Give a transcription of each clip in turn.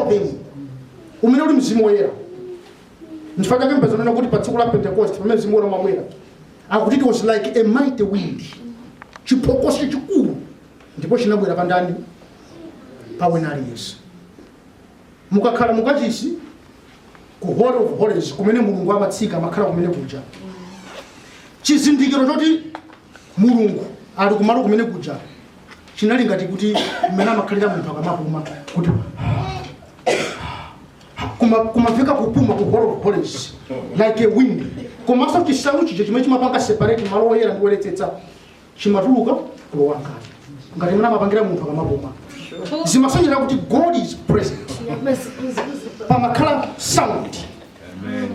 them umene uli mzimu woyera nchifukwa chake mupeza anena kuti pa tsiku la pentekoste pamene mzimu woyera umabwera akuti it was like a mighty wind chiphokoso chachikulu ndipo chinabwera pa ndani pa wina aliyense mukakhala mukachisi ku holy of holies kumene mulungu amatsika amakhala kumene kuja chizindikiro choti mulungu ali kumalo kumene kuja chinali ngati kuti mmene amakhalira munthu akamapuma kuti kuma- kumamveka kupuma ku holy of holies like a wind komanso chisalu chija chimene chimapanga separate malo oyera ndi oyeretsetsa chimatuluka kulowa ngati ngati mmene amapangira munthu akamapuma zimasonyeza kuti god is present pamakhala sound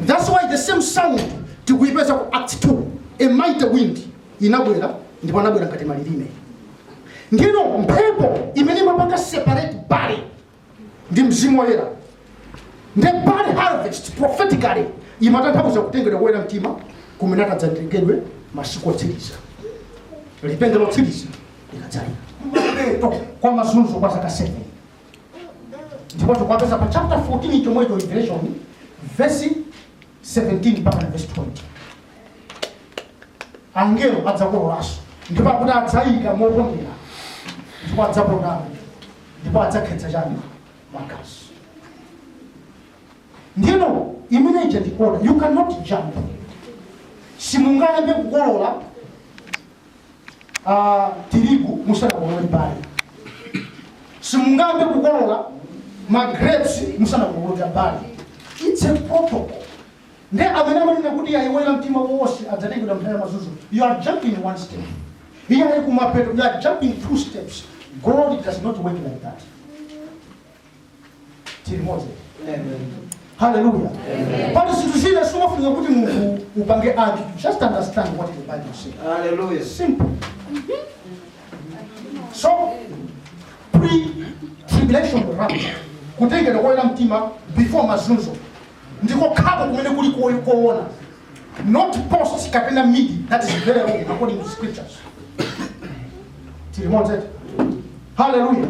That's why the same sound tikuipeza ku Acts 2. A mighty wind inabwera ndipo anabwera ngati malilime. Ndino mphepo imene imapanga separate barley ndi mzimu woyera. Nde barley harvest prophetically imatanthauza kutengedwa koyera mtima kumene atadzatengedwe masiku otsiriza. Lipenga lotsiriza likadzalira. Mapeto kwa mazunzo kwa zaka 7. ndipo tikuwapeza pa chapter 14 chomwecho revelation verse 17 mpakana verse 20 angelo adzakololanso ndipo akuti adzayika mopondera ndipo adzapondamo ndipo adzakhetsa chani magazi ndino imene ija ndikuona you cannot jump simungayambe kukolola a tirigu musanakolole barley simungayambe kukolola ma grapes musanakolole barley it's a protocol nde amene amanena kuti ayi oyera mtima onse adzatengedwa nthawi ya mazunzo you are jumping one step iye ali kumapeto you are jumping two steps god does not work like that tili limodzi haleluya pali zinthu zina zimafuna kuti munthu upange add just understand what the bible says Hallelujah. simple so pre-tribulation rapture kutengedwa koyera mtima before mazunzo ndi kokhako kumene kuli koyi- koona not post kapena mid that is very wrong according to scriptures tili limodzi hallelujah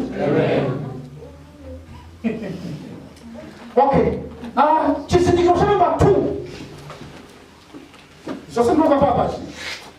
okay ah chizindikiro cha namba 2 zosindikira papachi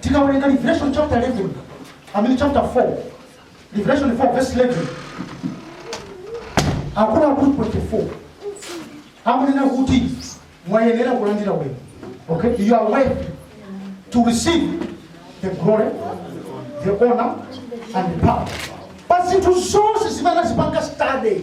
Tikawerenga Revelation chapter 11, I mean chapter 4, Revelation 4 verse 11, akuluakulu 24 akunena kuti mwayenera kulandira ulemu. Okay, you are worthy to receive the glory, the honor and the power. Pa zinthu zonse zimene anazipanga study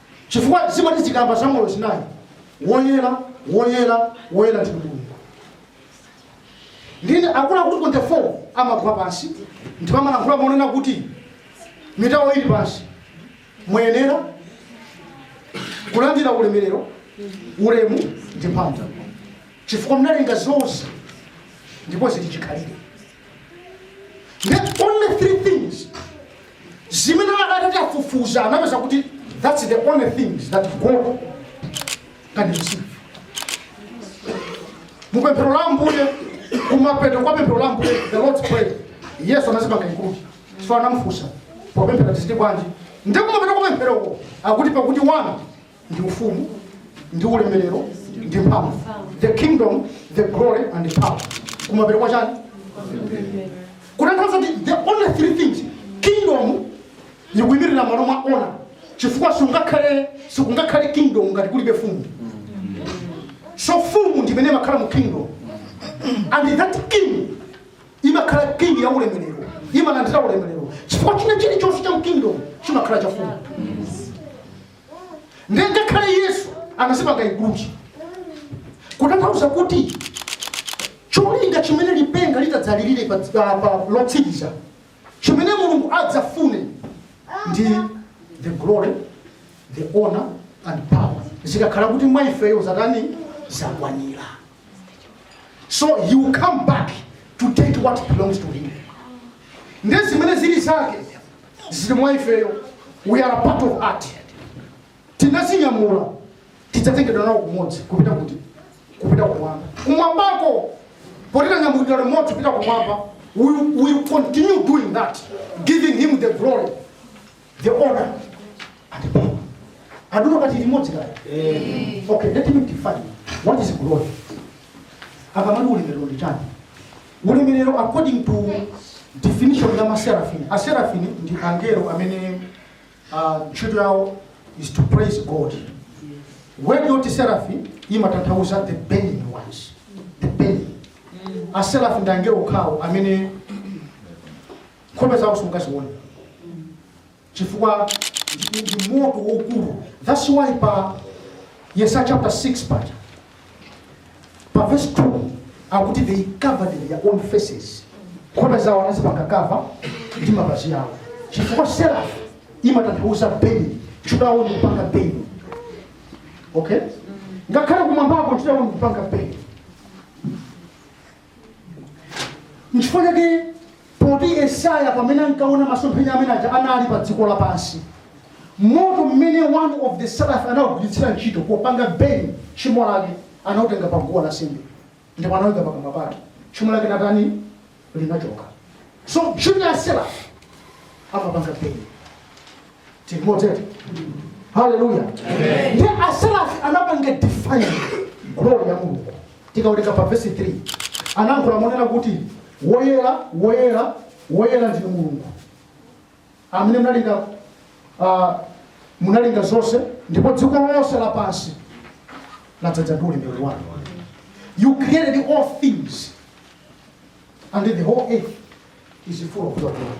chifukwa zimati zikamba za moyo zinayi woyera woyera woyera ndi mulungu ndiye akuluakulu 24 amagwa pansi ndipo amalankhula monena kuti mitu yawo ili pansi muyenera kulandira ulemerero ulemu ndi mphamvu chifukwa mnalenga zonse ndipo zili chikhalire Nde only three things. Zimene adatati tafufuza anapeza kuti that's the only things that God can receive. Mupemphero la Ambuye kumapeto kwa pemphero la Ambuye the Lord's prayer. Yesu anazipanga include. So anamfunsa popemphera tiziti bwanji. Ndipo kumapeto kwa pempheroko akuti pakuti wanu ndi ufumu ndi ulemerero ndi mphamvu the kingdom the glory and the power kumapeto kwa chani kutanthauza kuti the only three things kingdom ikuyimirira malo mwa honor chifukwa sikungakhale sikungakhale kingdom ngati kulibe fumu so fumu ndimene imakhala mu kingdom and that king imakhala king ya ulemerero imalandira ulemerero chifukwa china chilichonse cha mu kingdom chimakhala cha fumu ndiye ngakhale yesu anazipanga include kutanthauza kuti cholinga chimene lipenga litadzalirire pa- pa- pa- lotsiriza chimene mulungu adzafune ndi the glory the honor and power zikakhala kuti mwa ifeyo zatani zakwanira so he will come back to take what belongs to him ndi zimene zili zake zili mwa ifeyo we are part of that tinazinyamula tidzatengedwa nawo kumodzi kupita kuti kupita kumwamba kumwambako potitanyamulidwa limodzi kupita kumwamba we will continue doing that giving him the glory the honor and the power I don't know ngati tili limodzi kaya okay let me define what is glory akamati ulemerero ndi chani Ulemerero according to definition ya ma seraphim. A seraphim ndi angelo amene ah, ntchito yawo is to praise God. Word yoti seraphim imatanthauza the burning ones. The burning. A seraphim ndi angelo okhawo amene nkhope zawo simungazione. chifukwa ndi, ndi moto waukulu. That's why pa Yesaya chapter 6 paja pa verse 2 akuti they covered their own faces, nkhope zawo anazipanga cover ndi mapazi awo, chifukwa seraph imatanthauza burning, ntchito yawo ndi kupanga burn. Okay, ngakhale kumwambako ntchito yawo ndi kupanga burn. nchifukwa chake poti yesaya pamene ankaona masomphenya amene aja anali pa dziko lapansi moto mmene one of the seraph anawugwiritsira ntchito popanga burn tchimo lake anautenga pa guwa lansembe ndipo anawika pakamwa pake tchimo lake natani linachoka so ntchito ya seraph amapanga burn timoteyo haleluya nde aserafi anapanga define glory ya mulungu tikawerenga pa vesi 3 anayankhula monena kuti woyera woyera woyera ndinu mulungu amene munalenga ah, munalenga zonse ndipo dziko lonse lapansi ladzadza ndi ulemerero wanu you created all things and the whole earth is full of your glory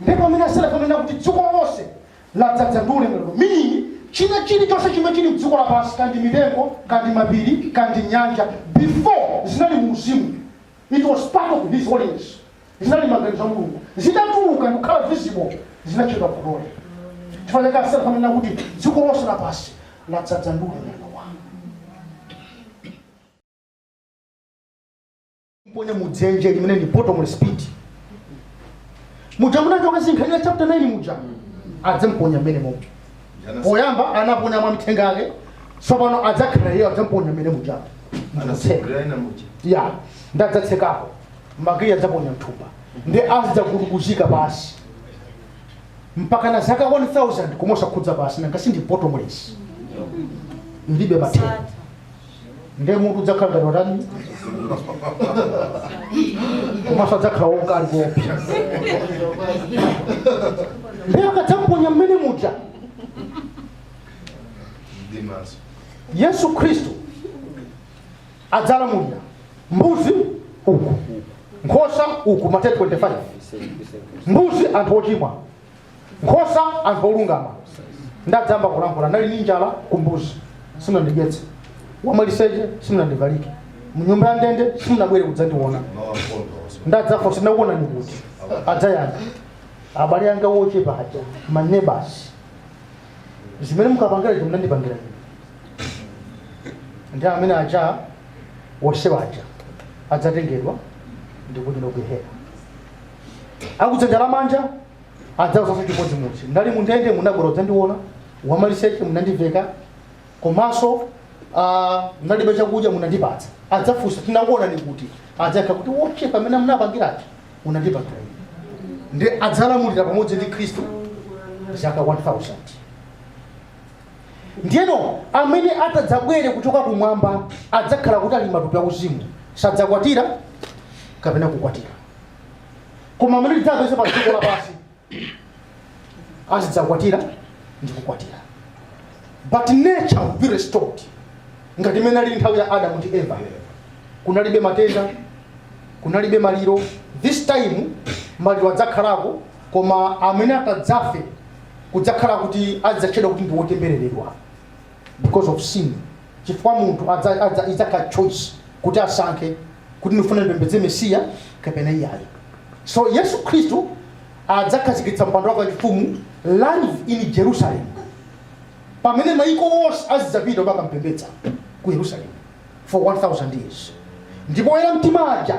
ndipo amene aserafi amanena kuti dziko lonse ladzadza ndi ulemerero meaning china chilichonse chimene chili mdziko lapansi kaya ndi mitengo kaya ndi mapiri kaya ndi nyanja before zinali mu uzimu it was part of his holiness zinali maganizo a mulungu zitatuluka ndikukhala visible zinatchedwa glory chifukwa chake aserafi amanena kuti dziko lonse lapansi ladzadza ndi ulemerero kuponya mu dzenje limene ndi bottomless pit muja munachoka zinkhanira chapter 9 muja adzamponya mmene momo poyamba anaponya mwa mithenga yake tsopano adzakhala iye adzamponya mmene muja ndikutseka ya ndadzatsekapo makiyi adzaponya mthumba nde azidzagubuduzika basi mpaka na zaka 1000 koma osakhudza pansi nanga sindi bottomless ndilibe mathero nde mutu udzakhala ngati watani komanso adzakhala waukali kuopsa nde akadzamuponya mmene muja yesu khristu adzalamulira mbuzi uku nkhosa uku mateyu 25 mbuzi anthu ochimwa nkhosa anthu olungama nde adzayamba kulankhula nali ndi njala kumbuzi simunandidyetse wamaliseche simunandiveke mnyumba ya ndende simunabwere kudzandiona nde adzafunsa tinakuonani kuti adzayankha abale anga wochepa aja ma neighbors zimene mukapangira izo munandipangira ine nde amene aja wonsewa aja adzatengedwa ndikuti ndi kugehena akudzanja lamanja adzauzaso chimodzimodzi ndali mundende munabwera kudzandiona wamaliseche munandiveka komanso ah, ndalibe chakudya munandipatsa adzafunsa tinakuonani kuti adzayankha kuti wochepa pamene munapangirachi munandipangira ine ndi adzalamulira pamodzi ndi khristu zaka 1000 ndiyeno amene atadzabwere kuchoka kumwamba adzakhala kuti ali matupi auzimu sadzakwatira kapena kukwatiwa koma amene tidzapeze pa dziko lapansi azidzakwatira ndi kukwatiwa but nature will be restored ngati mmene inalili nthawi ya adamu ndi eva kunalibe matenda kunalibe maliro this time maliro adzakhalako koma amene atadzafe kudzakhala kuti adzatchedwa kuti ndi wotembereredwa because of sin chifukwa munthu adza- adza- idzakhala choice kuti asankhe kuti ndifuna ndipembedze mesiya kapena iyayi so yesu khristu adzakhazikitsa mpando wake wachifumu live in jerusalem pamene maiko onse azidzapita kukampembedza ku yerusalemu for 1000 years ndipo oyera mtima aja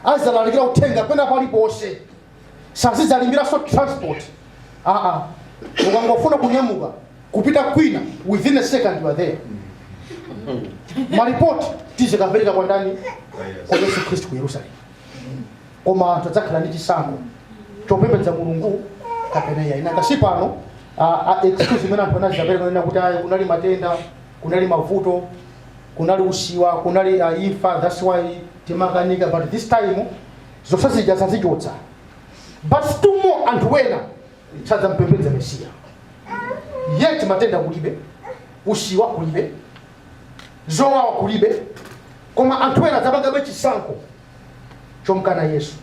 azidzalalikira uthenga pena paliponse sazidzalipiranso transport aa ukangofuna kunyamuka kupita kwina within a second you are there maripoti tizikapereka kwa ndani kwa yesu khristu ku yerusalemu koma anthu adzakhala ndi chisankho chopembedza mulungu kapena iyayi nanga si pano ah, ah, excuse imene anthu amapereka kunena kuti ayi kunali matenda kunali mavuto kunali usiwa kunali ah, imfa that's why timakanika but this time zonse zija adzazichotsa but still more anthu wena sadzampembedza mesiya yet matenda kulibe usiwa kulibe zowawa kulibe koma anthu wena adzapangabe chisankho chomkana yesu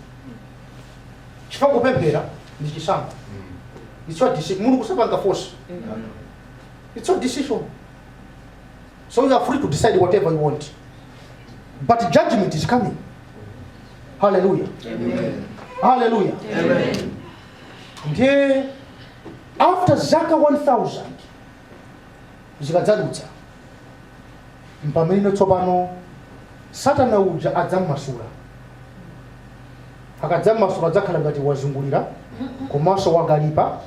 chifukwa kupemphera ndi chisankho it's your decision mulungu sapanga force it's your decision So you are free to decide whatever you want. But judgment is coming. Hallelujah. Amen. Hallelujah. Amen. Ndiye after zaka 1000 zikadzadutsa mpamene tsopano satana uja adzammasula akadzammasula adzakhala ngati wazungulika komanso wakalipa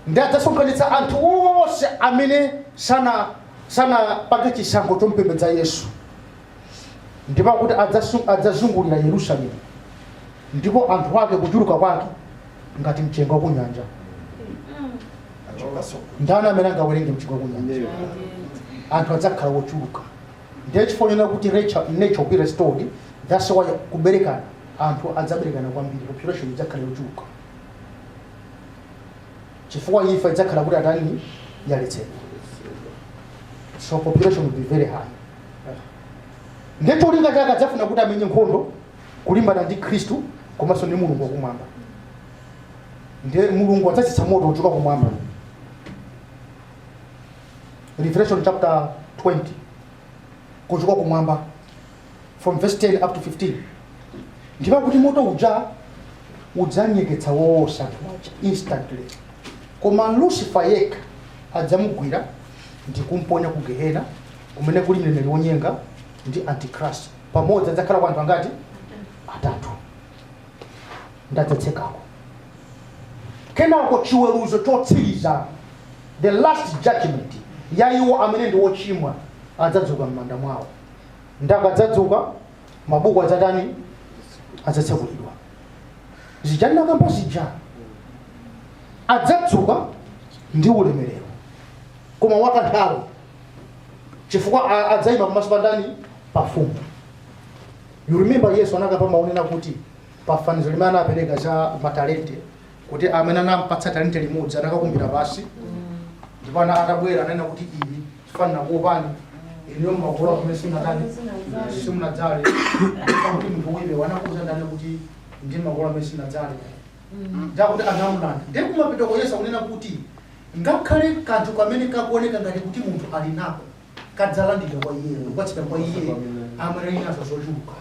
ndi adzasonkhanitsa anthu onse amene sana sanapange chisankho chompembedza yesu ndipo akuti adzasu- adzazungulira yerusalemu ndipo anthu ake kuchuluka kwake ngati mchenga wa kunyanja ndani amene angawerenge mchenga wa kunyanja anthu adzakhala wochuluka ndiye chifukwa chonena kuti nature nature will be restored that's why kuberekana anthu adzaberekana kwambiri population idzakhala yochuluka chifukwa imfa idzakhala kuti atani yaletsedwa so population will be very high ndiye cholinga chake adzafuna kuti amenye nkhondo kulimbana ndi khristu komanso ndi mulungu wakumwamba ndiye mulungu adzatsitsa moto uchoka kumwamba revelation chapter 20 kuchoka kumwamba from verse 10 up to 15 ndipo kuti moto uja udzanyeketsa wonse anthu aja instantly koma lucifer yekha adzamugwira ndi kumponya ku gehena kumene kuli mneneri wonyenga ndi antichrist pamodzi adzakhala kwa anthu angati atatu nde adzatsekako kenako chiweruzo chotsiriza the last judgment ya iwo amene ndi ochimwa adzadzuka m'manda mwawo nde akadzadzuka mabuku adzatani adzatsekulidwa zija ndinakamba zija adzadzuka ndi ulemerero koma wakanthawi chifukwa a- adzayima pamaso pa ndani pa mfumu you remember yesu anakamba mawu onena kuti pafanizo limene anapereka za matalente kuti amene anampatsa talente limodzi anakakumbira pansi ndipo ana atabwera ananena kuti ine chifukwa ndinakuopani inuyo mumakolola kumene simunatani simunadzale kuti munthu iwe anakuuza ndani kuti ndimakolola kumene sindinadzale nde akuti anamulanda ndiye kumapetoko yesu akunena kuti ngakhale kanthu kamene kakuoneka ngati kuti munthu ali nako kadzalandidwa kwa iye ndi kupatsidwa kwa iye amene ali nazo zochuluka.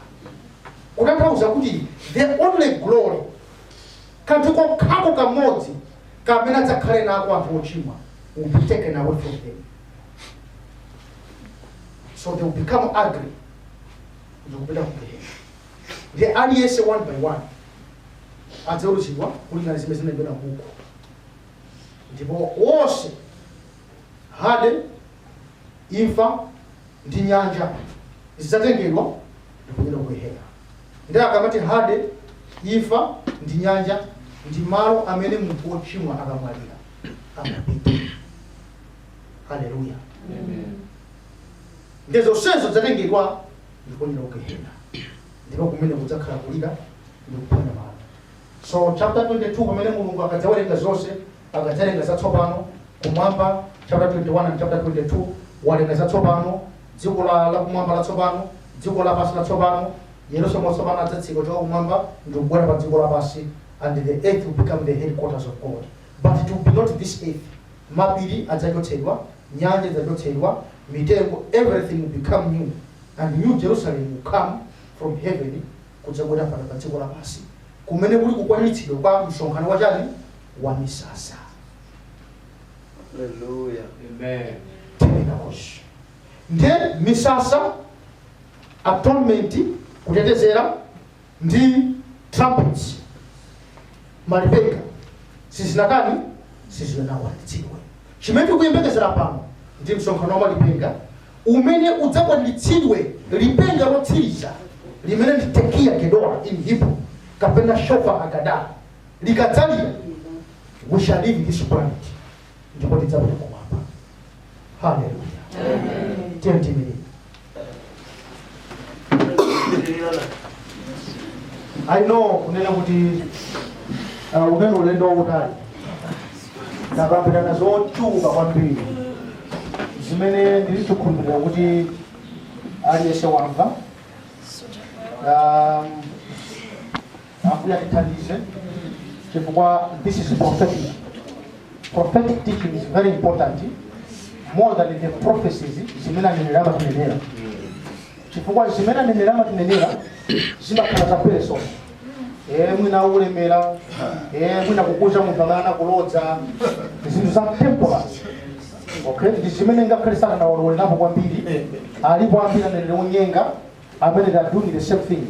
Kutanthauza kuti the only glory, kanthu kokhako kamodzi kamene adzakhale nako anthu ochimwa will be taken away from them. So they will become ugly. Ndikupita ku Gehena. Ndiye aliyense one by one. Adzaweruzidwa kulingana ndi zimene zinalembedwa m'buku. Ndipo wonse Hade, imfa, ndi nyanja zidzatengedwa ndikuponyedwa ku Gehena. Ndiye akamati Hade, imfa, ndi nyanja ndi malo amene munthu wochimwa akamwalira amapita. Haleluya! Ndiye zonsezo zidzatengedwa ndikuponyedwa ku Gehena, ndipo kumene kudzakhala kulira ndi kuphwanya mano. So chapter 22 pamene Mulungu akadzawerenga zonse akadzalenga zatsopano, Kumwamba, chapter 21 and chapter 22, walenga zatsopano, dziko la, la kumwamba latsopano, dziko lapansi latsopano, Yerusalemu watsopano adzatsika kuchoka kumwamba ndi kubwera pa dziko lapansi, and the earth will become the headquarters of God. But it will be not this earth. Mapiri adzachotsedwa, nyanja idzachotsedwa, mitengo, everything will become new. And New Jerusalem will come from heaven kudzabwera pano pa dziko lapansi kumene kuli kukwaniritsidwa kwa msonkhano wa chani wa misasa Hallelujah. Amen. Tabernacles nde misasa atonement kutetezera ndi trumpets malipenga sizinakwani sizinakwaniritsidwe chimene tikuyembekezera pano ndi msonkhano wa malipenga umene udzakwaniritsidwe lipenga lotsiriza limene ndi tekiya gedola in hebrew kapena shofar agada likadzalira, we shall leave this planet ndipo tidzapita kumwamba haleluya tiyeni tiimirire i know kunena kuti uh, unali ulendo wautali takambirana zochuluka kwambiri zimene ndili chikhulupirira kuti aliyense wamva um, Ambuye atithandize chifukwa this is prophetic. Prophetic teaching is very important more than the prophecies zimene aneneri amatinenera. Chifukwa zimene aneneri amatinenera zimakhala za person. Eh, mwina kulemera, eh, mwina kukuuza munthu amene anakulodza, zinthu za temporal. Okay, ndi zimene ngakhale sana na walolerapo kwambiri alipo ambiri aneneri onyenga amene they are doing the same thing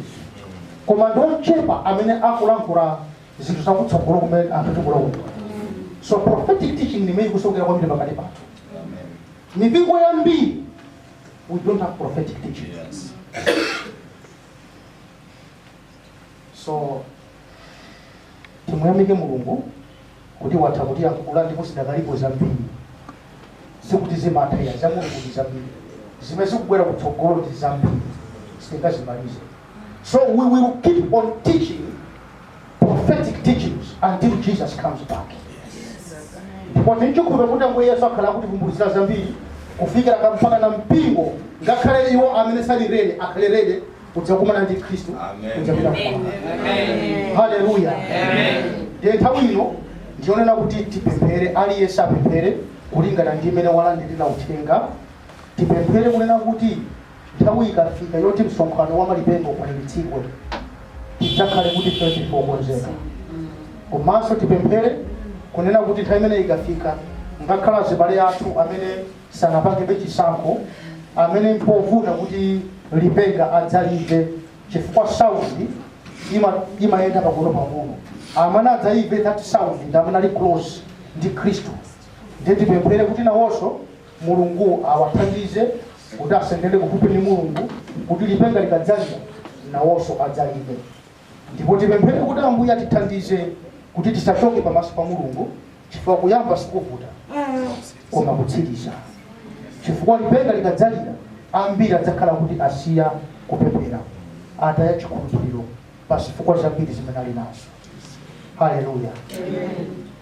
koma ndi ochepa amene akulankhula zinthu zakutsogolo kumene anthu tikulokuta so prophetic teaching ndi imene ikusowekera kwambiri pakati pathu mipingo yambiri we don't have prophetic teaching Yes. so timuyamike mulungu kuti watha kutiyankhula ndipo zidakalipo zambiri sikuti zimatha ayi zamulungu ndi zambiri zimene zikubwera kutsogolo ndi zambiri sitingazimalize so we will keep on teaching prophetic teachings until jesus comes back ndipo ndikukhulupirira kuti ambuye yesu akhala akutivumbulitsira zambiri kufikira mpakana mpingo ngakhale iwo amene sali ready akhale ready kudzakumana ndi Khristu kuchapita mkwamba. Haleluya! Ndiye nthawi ino ndi yonena kuti tipemphere, aliyense apemphere kulingana ndi mmene walandirira uthenga. Tipemphere kunena kuti nthawi ikafika yoti msonkhano wa malipenga ukwaniritsidwe, tidzakhale kuti ife tili okonzeka. Komanso tipemphere kunena kuti nthawi imene ikafika, ngakhale azibale athu amene sanapangebe chisankho, amene mpovuta kuti lipenga adzalimve chifukwa sound imayenda pang'onopang'ono amene adzaimve that sound ndi amene ali close ndi khristu ndiye tipemphere kuti nawonso mulungu awathandize kuti asendere kufupi ndi mulungu kuti lipenga likadzalira nawonso adzalimve Ndipo tipemphere kuti Ambuye atithandize kuti tisachoke pamaso pa Mulungu chifukwa kuyamba sikuvuta koma kutsiriza. Chifukwa lipenga likadzalira ambiri adzakhala kuti asiya kupemphera ataya chikhulupiriro pa zifukwa zambiri zimene ali nazo. Haleluya.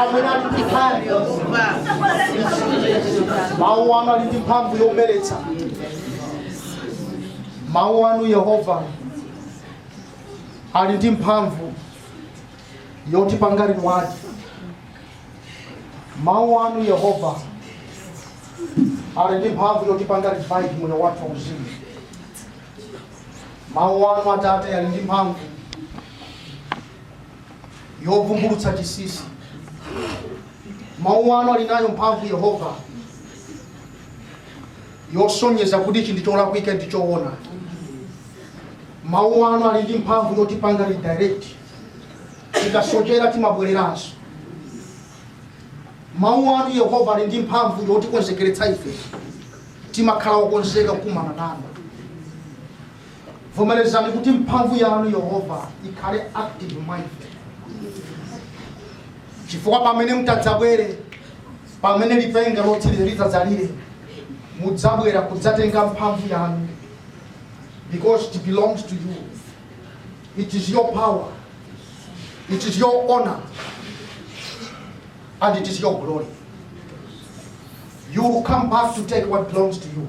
amene ali ndi mphamvu mawu anu ali ndi mphamvu yomeretsa mawu anu yehova ali ndi mphamvu yotipanga reward mawu anu yehova ali ndi mphamvu yotipanga revive moyo wathu wauzimu mawu anu atate ali ndi mphamvu yovumbulutsa chinsinsi mawu anu ali nayo mphamvu yehova yosonyeza kuti ichi ndi cholakwika ndi choona mawu anu ali ndi mphamvu yotipanga redirect tikasochera timabwereranso mawu anu yehova ali ndi mphamvu yotikonzekeretsa ife timakhala okonzeka kukumana nanu Vomerezani kuti mphamvu yanu Yehova ikhale active mwa ife, chifukwa pamene mtadzabwere, pamene lipenga lotsiriza litadzalire, mudzabwera kudzatenga mphamvu yanu because it belongs to you. It is your power. It is your honor. And it is your glory. You will come back to take what belongs to you.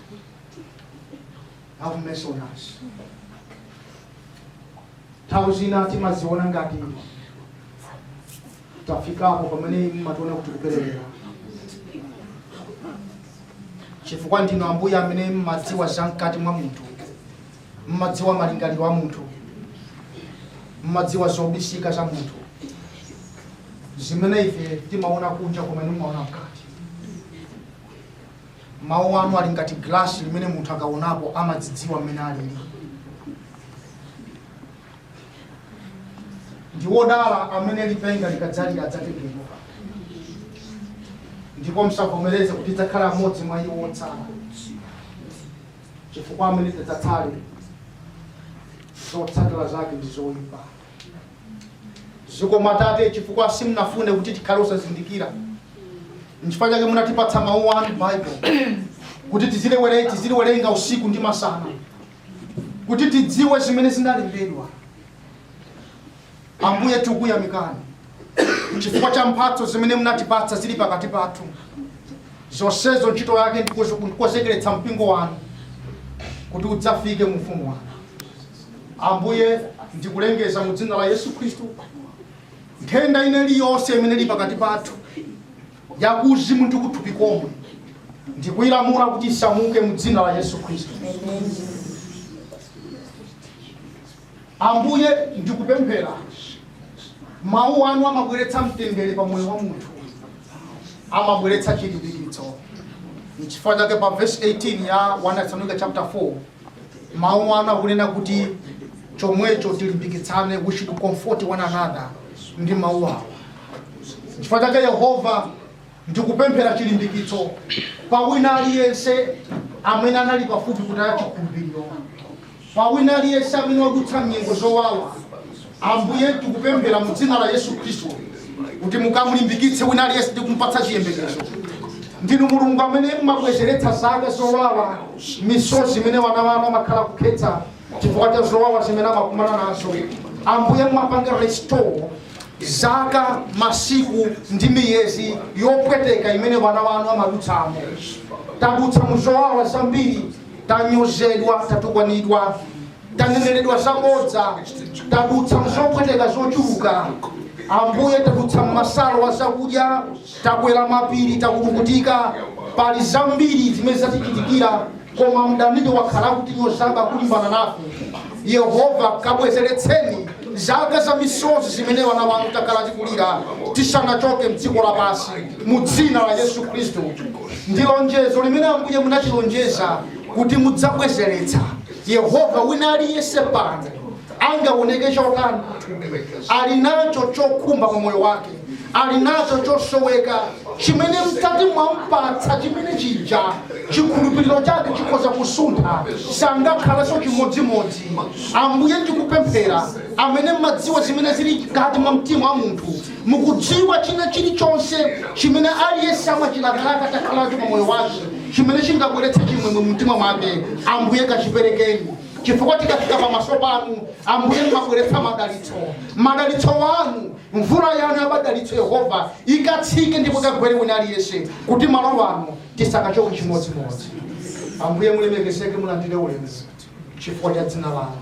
have mercy on us nthawi zina timadziona ngati tafikapo pamene mmationa kuti tikuperewera chifukwa ndinu ambuye amene mmadziwa za mkati mwa munthu mmadziwa malingaliro a munthu mmadziwa zobisika za munthu zimene ife timaona kunja koma inu mmaona mkati Mawu anu ali ngati gilasi limene munthu akaonapo amadzidziwa mmene alili. Ndi wodala amene lipenga likadzalira adzatembenuka, ndipo musavomereze kuti tidzakhala amodzi mwa iwo otsala, chifukwa amene tidzatsale zotsatira zake ndi zoyipa. zikomo atate chifukwa simunafune kuti tikhale osazindikira nchifukwa chake munatipatsa mawu anu Bible kuti tiziliwere- tiziliwerenga usiku ndi masana kuti tidziwe zimene zinalembedwa ambuye tikuyamikani chifukwa cha mphatso zimene munatipatsa zili pakati pathu zonsezo ntchito yake ndikozo- ndikonzekeretsa mpingo wanu kuti udzafike mu ufumu wanu Ambuye, ndikulengeza mu dzina la Yesu Khristu, nthenda ina iliyonse imene ili pakati pathu yakuuzimu ndi kuthupi komwe, ndikuyilamula kuti isamuke mu dzina la Yesu Khristu. Ambuye, ndikupemphera mawu anu amabweretsa mtendere pa moyo wa munthu, amabweretsa chilimbikitso. N'chifukwa chake pa verse 18 ya 1 Tesalonika chapter 4 Mawu anu akunena kuti, Chomwecho tilimbikitsane, we should comfort one another, ndi mawu awa. N'chifukwa chake Yehova ndikupemphera chilimbikitso pa wina aliyense amene anali pafupi kutaya chikhulupiriro, pa wina aliyense amene wadutsa m'nyengo zowawa, Ambuye, tikupemphera mu Dzina la Yesu Khristu kuti mukamulimbikitse wina aliyense ndi kumpatsa chiyembekezo. Ndinu Mulungu amene mumabwezeretsa zaka zowawa, misozi imene wana wanu amakhala kukhetsa chifukwa cha zowawa zimene amakumana nazo. Ambuye, mumapanga restore zaka, masiku ndi miyezi yopweteka imene wana wanu amadutsamo. Tadutsa mu zowawa zambiri, tanyozedwa, tatukwanidwa, taneneredwa zabodza tadutsa mzopweteka zochuluka ambuye tadutsa mmasala a zakudya takwera mapiri takulukutika pali zambiri zimene zatichitikira koma mdaniyo wakhala kutinyozaba kulimbana nafe yehova kabwezeretseni zaka za misozi zimene wana wanu takhala tikulira tisanachoke mdziko lapansi mu dzina la yesu khristu ndi lonjezo limene ambuye munatilonjeza kuti mudzabwezeretsa Yehova, wina aliyense pano angaoneke chotani, ali nacho chokhumba pa moyo wake, ali nacho chosoweka chimene mutati mwampatsa chimene chija chikhulupiriro chake chikhoza kusuntha, sangakhalenso chimodzimodzi. Ambuye, ndikupemphera amene mmadziwa zimene zili mkati mwa mtima wa munthu Mukudziwa, china chilichonse chimene aliyense amachilakalaka atakhala nacho pa moyo wake, chimene chingabweretse chimwemwe mu mtima mwake, Ambuye, kachiperekeni. Chifukwa tikafika pamaso Panu, Ambuye, mumabweretsa madalitso, madalitso Anu, mvula Yanu ya madalitso, Yehova, ikatsike ndipo ikagwere wina aliyense, kuti malo ano tisakachoke chimodzimodzi. Ambuye, mulemekezeke, mulandire ulemu chifukwa cha dzina Lanu.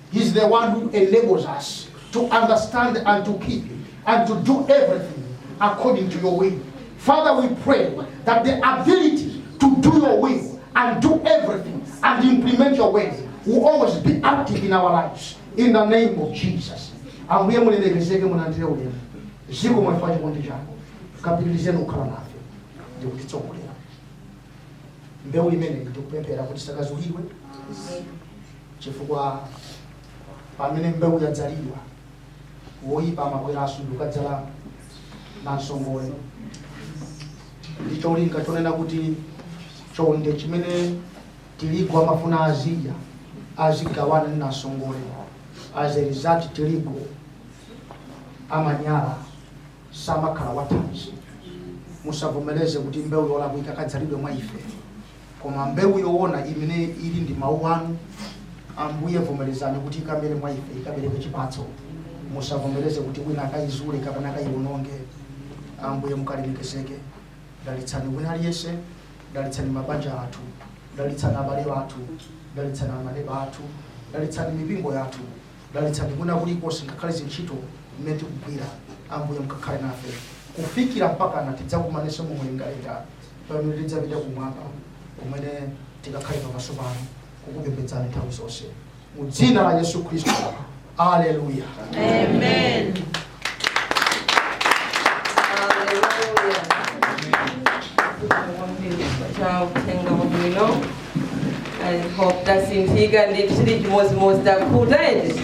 He's the one who enables us to understand and to keep and to do everything according to your will. Father, we pray that the ability to do your will and do everything and implement your ways will always be active in our lives. In the name of Jesus. Ambuye mulemekezeke mulandire ulemu. Zikomo chifukwa cha chikondi chako. Kapitirizeni kukhala nafe ndi kutitsogolera. Mbewu imeneyi ndikupemphera kuti isakazulidwe. Chifukwa pamene mbewu yadzalidwa, woyipa amabweranso ndikukadzala nansongole ndi cholinga chonena kuti chonde chimene tirigu amafuna azidya azigawana ndi nansongole as a result tirigu amanyala samakhala wathanzi. Musavomereze kuti mbewu yolakwika ikadzalidwe mwa ife, koma mbewu yoona imene ili ndi mawu anu, Ambuye, vomerezani kuti ikamere mwa ife, ikabereke chipatso. Musavomereze kuti wina akayizule kapena akayiwononge. Ambuye, mukalemekezeke. Dalitsani wina aliyense, dalitsani mabanja athu, dalitsani abale athu, dalitsani amaneba athu, dalitsani mipingo yathu, Dalitsani kwina kulikonse, ngakhale zintchito zimene tikugwira, Ambuye, mukakhale nafe kufikira mpakana tidzakumanenso mu mlengalenga, pamene tidzapita kumwamba, kumene tikakhale pamaso panu kukupembedzani nthawi zonse. Mu dzina la Yesu Khristu, aleluya. Amen. tasinthika sitili chimodzimodzi takhuta eti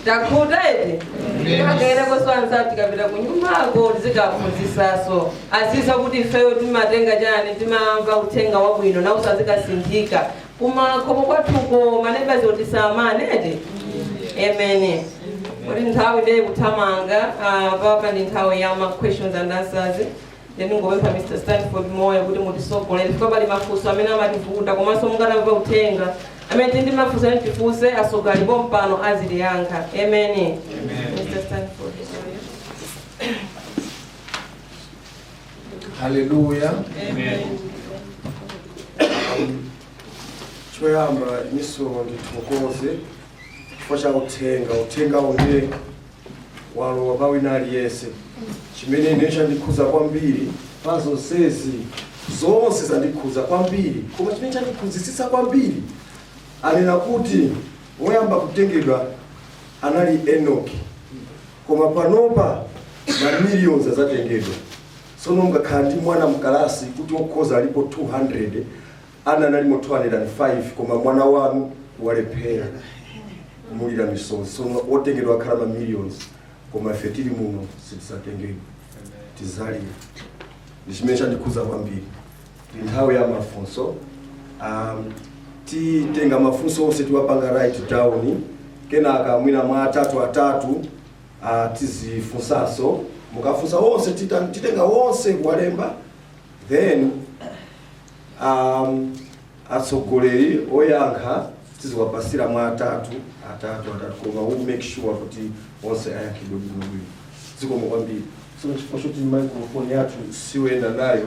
takhuta eti tikagenda koswanza tikapita ku nyumbako tizikaphunzitsanso azidziwa kuti ifeyo timatenga chani timamva uthenga wabwino nawonso azikasinthika kumakomo kwathuko manebazi tisawamane eti amen kuti nthawi ndiye ikuthamanga ah, pano ndi nthawi ya ma questions and answers then ndingopempha mr stanford moyo kuti mutitsogolere chifukwa pali mafunso amene amativuta komanso mungatamva uthenga amene tili ndi mafunso amene tifunse atsogoleri pompano azitiyankha amen mr stanford haleluya Um, choyamba ineso ndithokoze chifukwa cha uthenga uthenga onse walowa kwa wina aliyense chimene ine chandikhuza kwambiri pa zonsezi zonse zandikhuza kwambiri koma chimene chandikhuzisisa kwambiri anena kuti woyamba kutengedwa anali enoki Koma panopa ma millions azatengedwa. Sono ungakhale ndi mwana mkalasi kuti okhoza alipo 200, ana analimo 205 koma mwana wanu walephera kumulira misozi. Sono otengedwa akhala ma millions koma ife tili muno sitizatengedwa. Tizalira. Ndichimene chandikhuza kwambiri. ndi nthawi ya mafunso um, titenga mafunso onse tiwapanga write down kenaka mwina mwa atatu atatu uh, tizifunsanso mukafunsa wonse tita- titenga wonse kuwalemba then um, atsogoleri oyankha tiziwapasira mwa atatu atatu atatu koma we make sure kuti onse ayankhidwe bwinobwino zikomo kwambiri so chifukwa choti microphone yathu siyoyenda nayo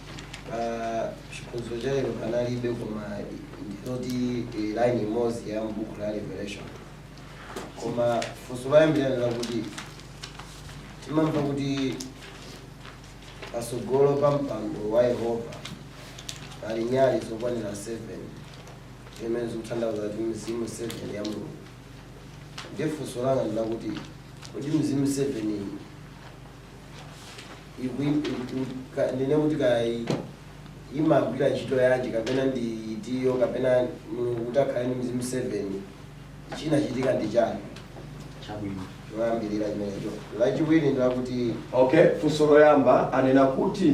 Ah, chiphunzitso cha lero panalibe koma ndizoti eh, line imodzi ya m'buku la revelation koma funso loyambirira ndilakuti timamva kuti patsogolo pa mpando wa yehova pali nyali zokwanira 7 zimene zikutanthauza kuti mizimu 7 ya mulungu ndiye funso langa ndilakuti kodi mizimu 7 iyi ndinene kuti kaya imagwira ntchito yanji kapena ndi itiyo kapena mulungu kuti akhale ndi mizimu 7 chinachitika ndi chani chabwino loyambirira limenelo lachiwiri ndilakuti okay funso loyamba anena kuti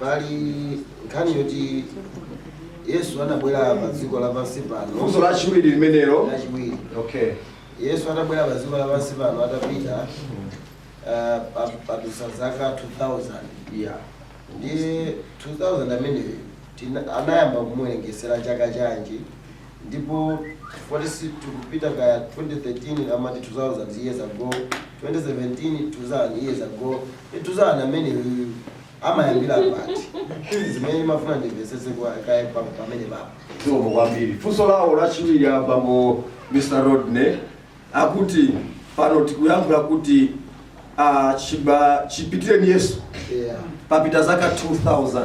Pali nkhani yoti Yesu anabwera pa dziko lapansi pano. Funso lachiwiri limenelo. Lachiwiri. Okay. Yesu anabwera pa dziko lapansi pano atapita uh, padutsa zaka 2000. Yeah. Ndiye 2000 ameneyo anayamba kumuwerengesera chaka chanji ndipo poti tikupita ka 2013 amati 2000 years ago 2017 2000 years ago 2000 ameneyo amayambila pati izi zimene ndimafuna ndimvesese kwa- kaye pa- pamene papa zikomo kwambiri funso lawo lachiwiri abambo mr rodney akuti pano tikuyankhula kuti ah, chiba- chipitireni yesu yeah. papita zaka 2000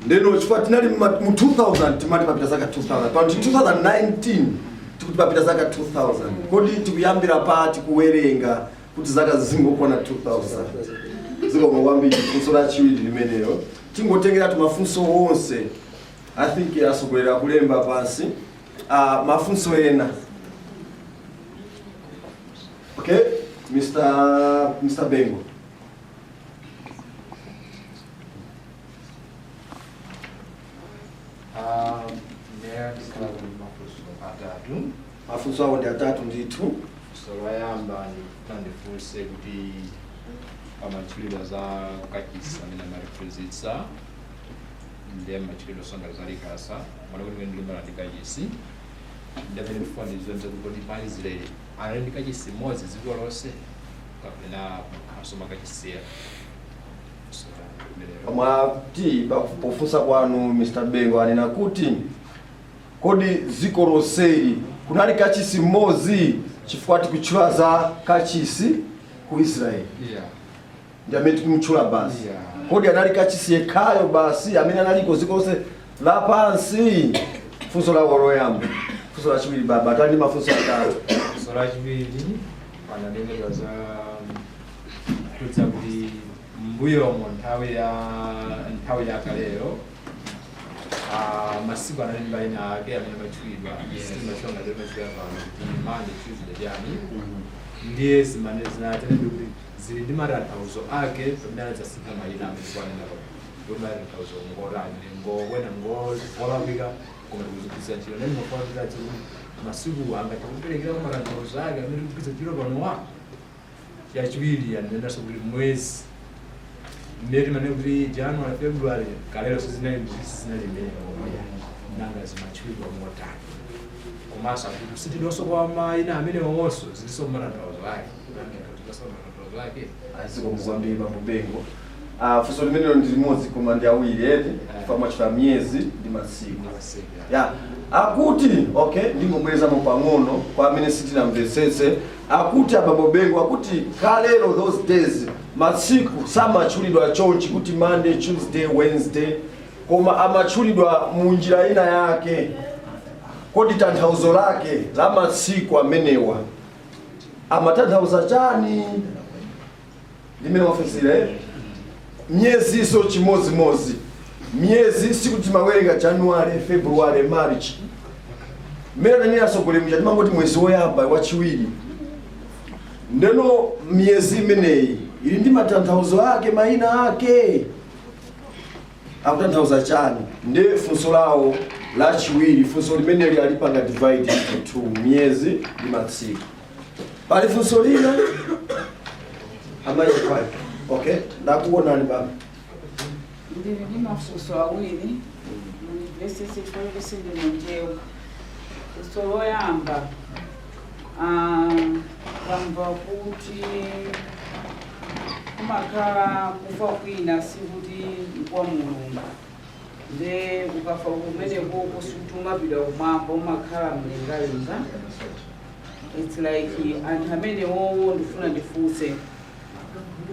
ndeno chifukwa tinali mma- mu 2000 timati papita zaka 2000 pano tili 2019 tikuti papita zaka 2000 kodi tikuyambira pati kuwerenga kuti zaka zingokwana 2000 zikomo kwambiri funso lachiwiri limenelo tingotengeratu mafunso onse i think atsogoleri akulemba pansi uh, mafunso ena okay mr mr bengo Um, there is a lot of people who are doing. Mafunso awo ndi atatu ndithu. Funso loyamba ndikufuna ndifunse kuti pamatchulidwe za kachisi amene amatiphunzitsa ndiye amatchulidwa sangati za likasa mwana kuti mene ndilimbana ndi kachisi ndi amene ndifuna ndidziwe nzakuti kodi ma Israeli anali ndi kachisi mmodzi dziko lonse kapena makhaso makachisera funso langa limenelo. Mwati pa- pofunsa kwanu Mr. Bengo anena kuti Kodi dziko lonseli kunali kachisi mmodzi? Chifukwa tikutchula za kachisi ku Israel ndi amene tikumutchula basi. Kodi anali kachisi yekhayo basi amene analiko dziko lonse lapansi? Funso lawo loyamba. Funso lachiwiri, bambo atati ndi mafunso atatu. Funso lachiwiri pananenedwa za kuti mbuyomo nthawi ya nthawi yakaleyo Ah, masiku anali ndi mayina ake amene amatchulidwa samatchula ngati amatchulira pano kuti monday tuesday chani ndiye zimene zinanenedwa kuti zili ndi matanthauzo ake pamene anadzasintha mayina amene akunena pano kuti matanthauzo ngotani ngoona ngolakwika koma tikuzigwiritsa ntchito ndiye ndimafuna kuti masiku angatiperekere matanthauzo ake amene tikugwiritsa ntchito panowa Yachiwiri ananenanso kuti mwezi mmene timanena kuti January, February kalero sizinali sizinali mmenemo nanga zimatchulidwa motani komanso akuti sitidonso kwa mayina amenewonso zilinso matanthauzo ake nanga tikutinso matanthauzo ake zikomo kwambiri bambo bengo Ah, funso limenelo ndi limodzi koma ndi awiri eti chifukwa mwatchula miyezi ndi masiku ya akuti okay ndingobwerezamo pang'ono kwa amene sitinamvetsetse akuti abambo bengo akuti kalero those days masiku samatchulidwa chonchi kuti monday tuesday wednesday koma amatchulidwa mu njira ina yake kodi tanthauzo lake la masiku amenewa amatanthauza chani mmene afunsira eh? miyezinso chimodzimodzi miyezi sikuti timawerenga january february march mmene ananena atsogoleri muja timangoti mwezi woyamba wachiwiri ndeno miyezi imeneyi ili ndi matanthauzo ake mayina ake akutanthauza chani ndi funso lawo lachiwiri funso limeneli alipanga divide into two miyezi ndi masiku pali funso lina amayi fine okay ndakuonani baba ndili ndi mafunso awiri mundimvetsetse chifukwa sindimanena funso loyamba ah, tamva kuti kumakhala kufa kwina sikuti nkwa mulungu nde ukafa kumeneko ku sutumapita kumwamba umakhala mlengalenga its like anthu amenewowo ndifuna ndifunse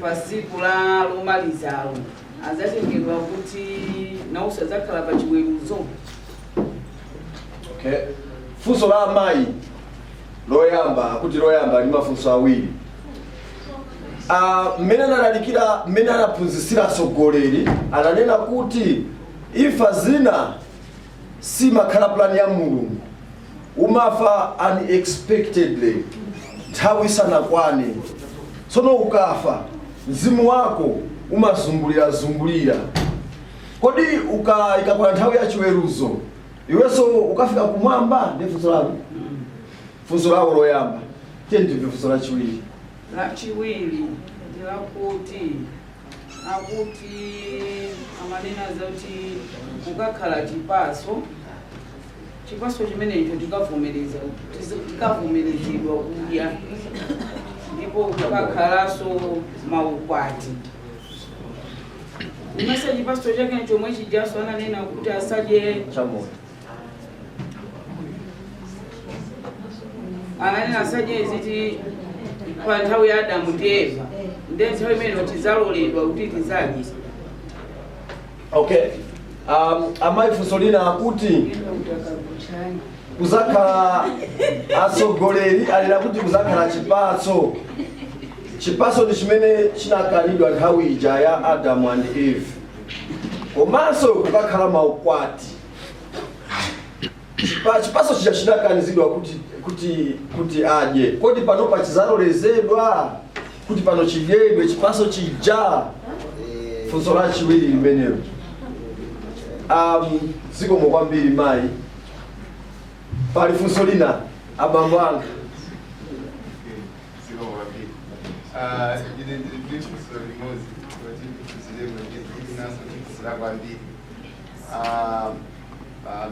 pa tsiku la lomalizalo adzatengedwa kuti nawonso adzakhala pa chiweruzo okay funso la amayi loyamba kuti loyamba ndi mafunso awiri Ah, mmene analalikira mmene anaphunzitsira atsogoleri ananena kuti imfa zina sizimakhala plan ya mulungu umafa unexpectedly nthawi isanakwane tsono ukafa mzimu wako umazungulira zungulira kodi uka ikakwana nthawi ya chiweruzo iwenso ukafika kumwamba ndi funso lako funso lako loyamba tiyeni timve funso lachiwiri lachiwiri ndi lakuti akuti amanena zoti kukakhala chipaso chipaso chimenecho tikavomereza tizi- tikavomerezedwa kudya ndipo kukakhalanso maukwati ndimayesa chipaso chake chomwe chijaso ananena kuti asadye cha moyo ananena asadye ziti pa nthawi ya adamu ndi eva ndi nthawi imene tidzaloledwa kuti tidzadye okay um, amayi funso lina akuti kuzakhala atsogoleri anena kuti kuzakhala chipatso chipatso ndi chimene chinakanidwa nthawi ija ya adamu and eve komanso kukakhala maukwati Pa- chipaso chija chinakanizidwa kuti kuti kuti adye kodi pano pachizalolezedwa kuti pano chidyedwe chipaso chija funso la chiwiri limenelo um, zikomo kwambiri mayi pali funso lina abambo anga ndine ndiri ndifunso limodzi kuti ndikuzilemwe ndikuti naso ndikuzira kwambiri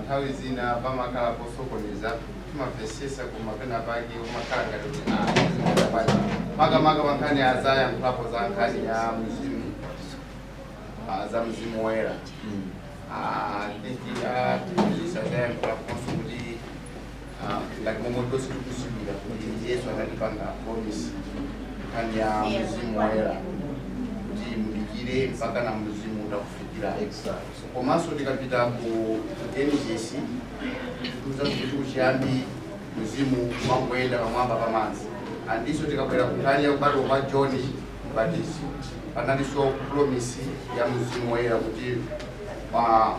Nthawi zina pamakhala posokoneza, timamvetsetsa koma pena pake umakhala ngati kuti aaa makamaka pa nkhani ya zayankhulapo za nkhani ya mzimu ah, za mzimu woyera Ah, I think, ah, tizisazayankhulaponso kuti ngati momwe tonse tikudziwira kuti yesu anatipanga promise nkhani ya mzimu woyera kuti mudikire mpaka na mzimu utakufikira komanso tikapita ku ku genesis tiuza kuti kuchiyambi mzimu umangoyenda pamwamba pa madzi andinso tikabwera ku nkhani ya kubadwa kwa john mbatizi panalinso promise ya mzimu woyera kuti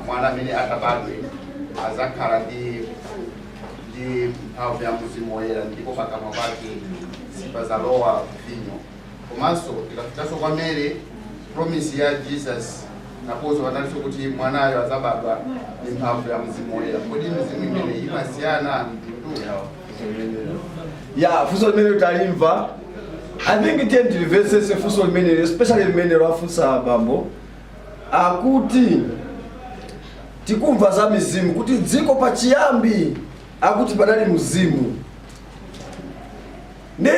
mwana amene azabadwe azakhala ndi ndi mphamvu ya mzimu woyera ndipo pakamwa pake sipazalowa vinyo komanso tikafikanso kwa mary promise ya jesus naponso panalinso kuti mwanayo azabadwa ndi mphamvu ya mzimu woyera kodi mizimu imeneyi imasiyana ya funso limene talimva i think tiye ndilimvetsetse funso limenelo especially limenelo afunsa abambo akuti tikumva za mizimu kuti dziko pachiyambi akuti padali mzimu ndi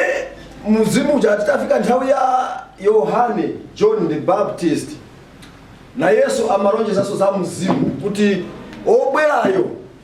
mzimu uja titafika nthawi ya yohane john the baptist na yesu amalonjezanso za mzimu kuti wobwerayo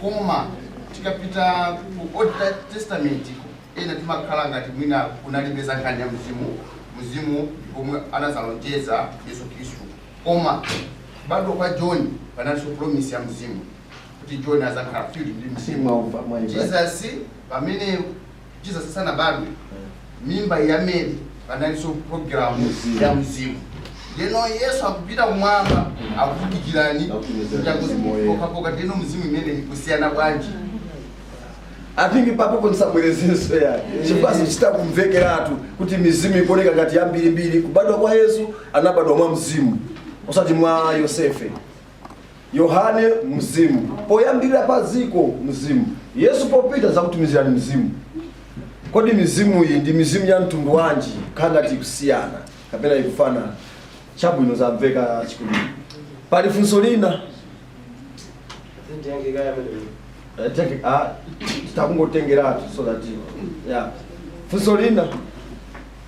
koma tikapita ku old testament ena timakhala ngati mwina kunalibe za nkhani ya mzimu mzimu omwe anazalonjeza yesu khristu koma kubadwa kwa john panalinso promise ya mzimu kuti john azakhala filled ndi mzimu jesus pamene jesus sanabadwe mimba ya mary panalinso programu ya mzimu ndeno yesu akupita kumwamba akuti dikirani pokapoka ndeno mzimu imeneyi ikusiyana bwanji i think papo nisabwerezenso ya chifa zichita kumvekeratu kuti mizimu ikuoneka ngati yambirimbiri kubadwa kwa yesu anabadwa mwa mzimu osati mwa yosefe Yohane mzimu, poyambirira pa dziko mzimu, Yesu popita nzakutumizirani mzimu. Kodi mizimu iyi ndi mizimu ya mtundu wanji? Khala ngati ikusiyana kapena ikufanana, chabwino zamveka chikulu. Pali funso lina titha kungotengeratu so that yeah. funso lina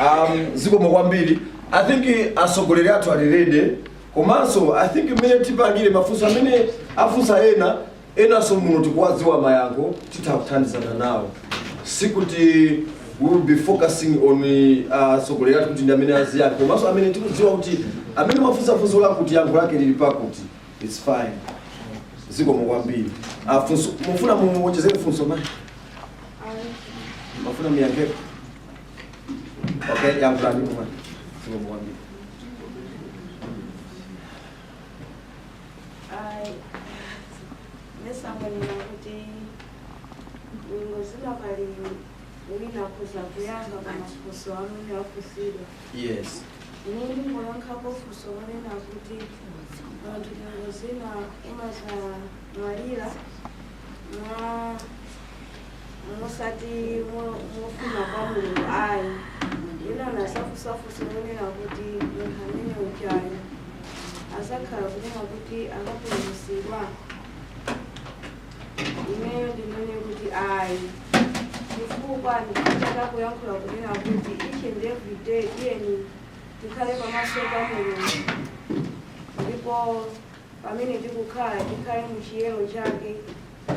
um, zikomo kwambiri i think atsogoleri athu ali ready komanso i think mmene tipangire mafunso amene afunsa ena enanso muno tikuwadziwa mayankho titha kuthandizana nawo sikuti we will be focusing on atsogoleri athu kuti ndi amene aziyankha komanso amene tikudziwa kuti amene mwafunsa funso lakuti yankho lake lili pakuti its fine zikomo kwambiri funso mufuna muwonjezere funso mayi Mufuna ndiyankhe. Okay, yankhulani mwana. Sio mwana. Ai, ndisanene kuti ngozi ina pali wina akudza kuyankha pa mafunso amene afunsidwa Yes. ine ndingoyankhapo funso lonena kuti munthu ngozi ina umazamwalira mwa- musati mu- mufuna kwa mulungu ayi ena anazafunsa funso lonena kuti munthu ameneyo chabe azakhala kunena kuti akapulumusidwa ineyo ndinene kuti ayi chifukwa ndikutha kuyankhula kunena kuti each and every day tiyeni tikhale pamaso pa mulungu ndipo pamene tikukhala tikhale mu chiyero chake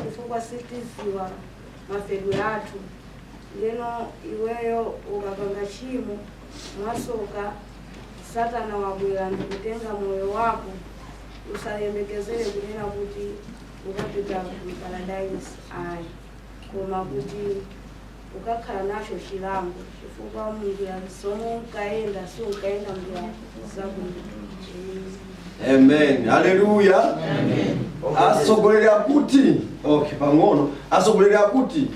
chifukwa sitidziwa mafedwe athu ndeno iweyo ukapanga tchimo mwasoka satana wabwera ndikutenga moyo wako usayembekezere kunena kuti ukapita ku paradise ayi koma kuti ukakhala nacho chilango chifukwa munjira zomwe unkayenda si unkayenda mnjira zabwino amen haleluya atsogoleri akuti okay pang'ono atsogoleri akuti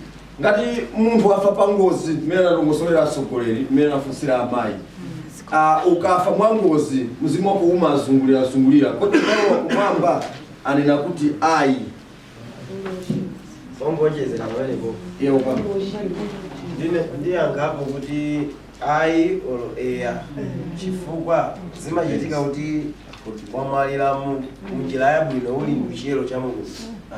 ngati munthu wafa pa ngozi mmene analongosolera atsogoleri mmene anafunsira amayi Ah, ukafa mwa ngozi mzimu wako umazungulirazungulira kodi nawo akumwamba anena kuti ayi Kuwonjezera pamenepo. Iyo kwa. Ine ndiyankhapo kuti ayi olo eya. Chifukwa zimachitika kuti wamwalira mu njira yabwino uli mchiyero cha Mulungu.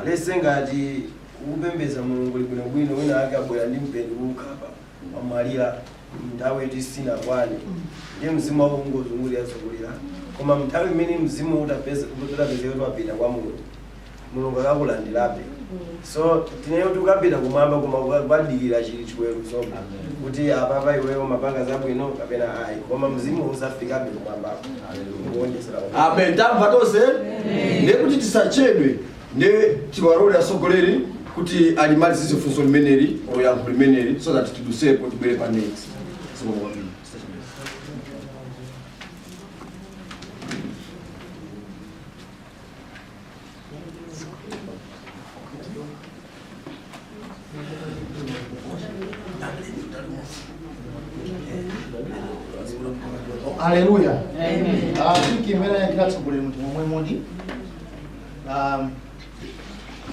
Let's say ngati ukupembedza Mulungu bwinobwino wina ake abwera ndi mpeni kukukhapa. wamwalira mnthawi yoti sinakwane ndiye mzimu wako ungozungulira zungulira koma mnthawi imene mzimu utapeza utapezeka kuti wapita kwa mulungu mulungu akakulandirabe so sindiye kuti ukapita kumwamba koma uka- ukadikira chiweruzobe kuti apapa iweyo umapanga zabwino kapena ayi koma mzimu uzafikabe kumwambako kuonjezera amen tamva tonse ndiye kuti tisachedwe nde tiwarole asogoleri kuti alimalizize funso limeneli or yankho limeneli so that tidutsepo tibwere pa next so, um, aleluya Tikumane atsogoleri monga momwe mudi um,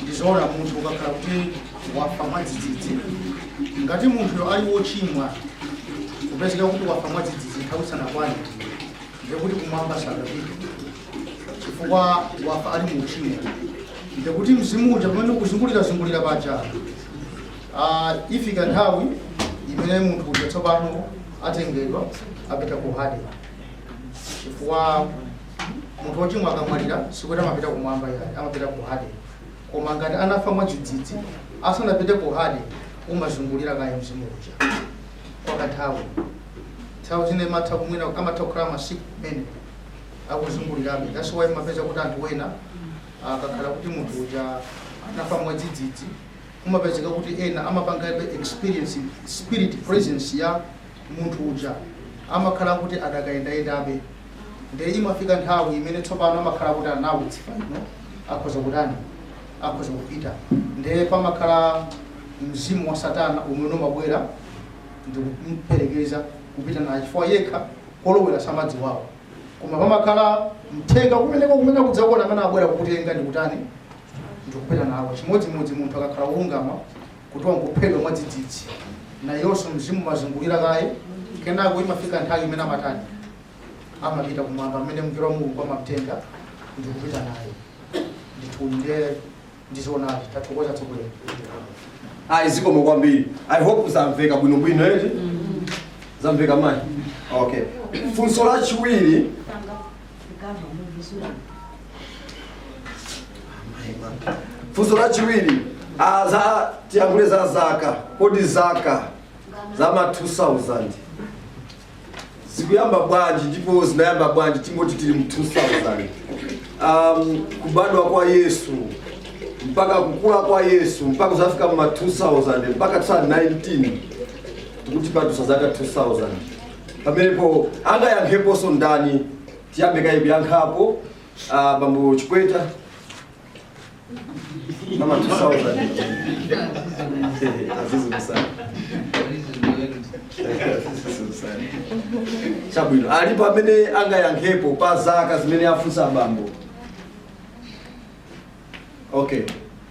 ndizoona munthu ukakhala kuti wafa mwadzidzidzi ngati munthuyo ali wochimwa kupezeka kuti wafa mwadzidzidzi nthawi sanakwane ndekuti kumwamba sakapita chifukwa wafa ali mu uchimo ndekuti mzimu uja pamene ukuzungulira zungulira paja ah, ifika nthawi imene munthu uja tsopano atengedwa apita ku hade chifukwa munthu wochimwa akamwalira sikuti amapita kumwamba yaye amapita ku hade koma ngati anafa mwadzidzidzi asanapite ku hade umazungulira kaye mzimu uja kwa kanthawi nthawi zina imatha kumwina amatha kukhala masiku kumene akuzungulirabe that's why mumapeza kuti anthu wena akakhala kuti munthu uja anafa mwadzidzidzi kumapezeka kuti ena amapangabe experience spiritual presence ya munthu uja amakhala kuti adakayendayendabe nde imafika nthawi imene tsopano amakhala kuti anawutsifa ino akhoza kutani akhoza kupita nde pamakhala mzimu wa satana umene umabwera ndikuperekeza kupita naye chifukwa yekha kolowera samadziwako koma pamakhala mthenga kumene kumene kudzakuona amene abwera kukutenga ndikutani ndikupita nawo chimodzimodzi munthu akakhala wolungama kuti wangophedwa mwadzidzidzi nayonso mzimu umazungulira kaye kenako imafika nthawi imene amatani amapita kumwamba amene mngelo wa mulungu amamtenga ndikupita naye ndithunde ndizoonadi tathokoza atsogoleri ayi zikomo kwambiri i hope zamveka bwinobwino eti zamveka mayi okay funso lachiwiri funso lachiwiri ah, za tiyankhule za zaka kodi zaka za ma 2000 zikuyamba bwanji ndipo zinayamba bwanji tingoti tili mu 2000 um, kubadwa kwa yesu mpaka kukula kwa yesu mpaka kudzafika mma 2000 mpaka 2019 tikuti padutsa zaka 2000 pamenepo angayankheponso ndani tiyambe kaya kuyankhapo uh, bambo chikweta Mama Tsauza. Azizi kusana. Chabwino. Alipo amene angayankhepo pa zaka zimene afunsa abambo. Okay.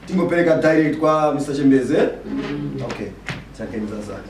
Tingopereka direct kwa Mr. Chembeze. Okay. Chabwino za zaka.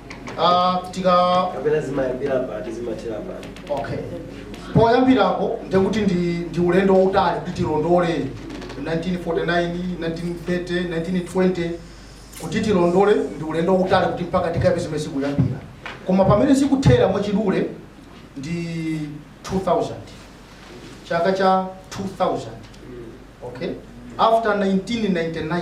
Ah, tikaika pena zimayambira pati zimathera pati okay poyambirapo ndi kuti ndi ndi ulendo wautali kuti tilondole 1949 1930 1920 kuti tilondole ndi ulendo wautali kuti mpaka tikapeze mmene zikuyambira koma pamene zikuthera mwachidule ndi 2000 chaka cha 2000 okay after 1999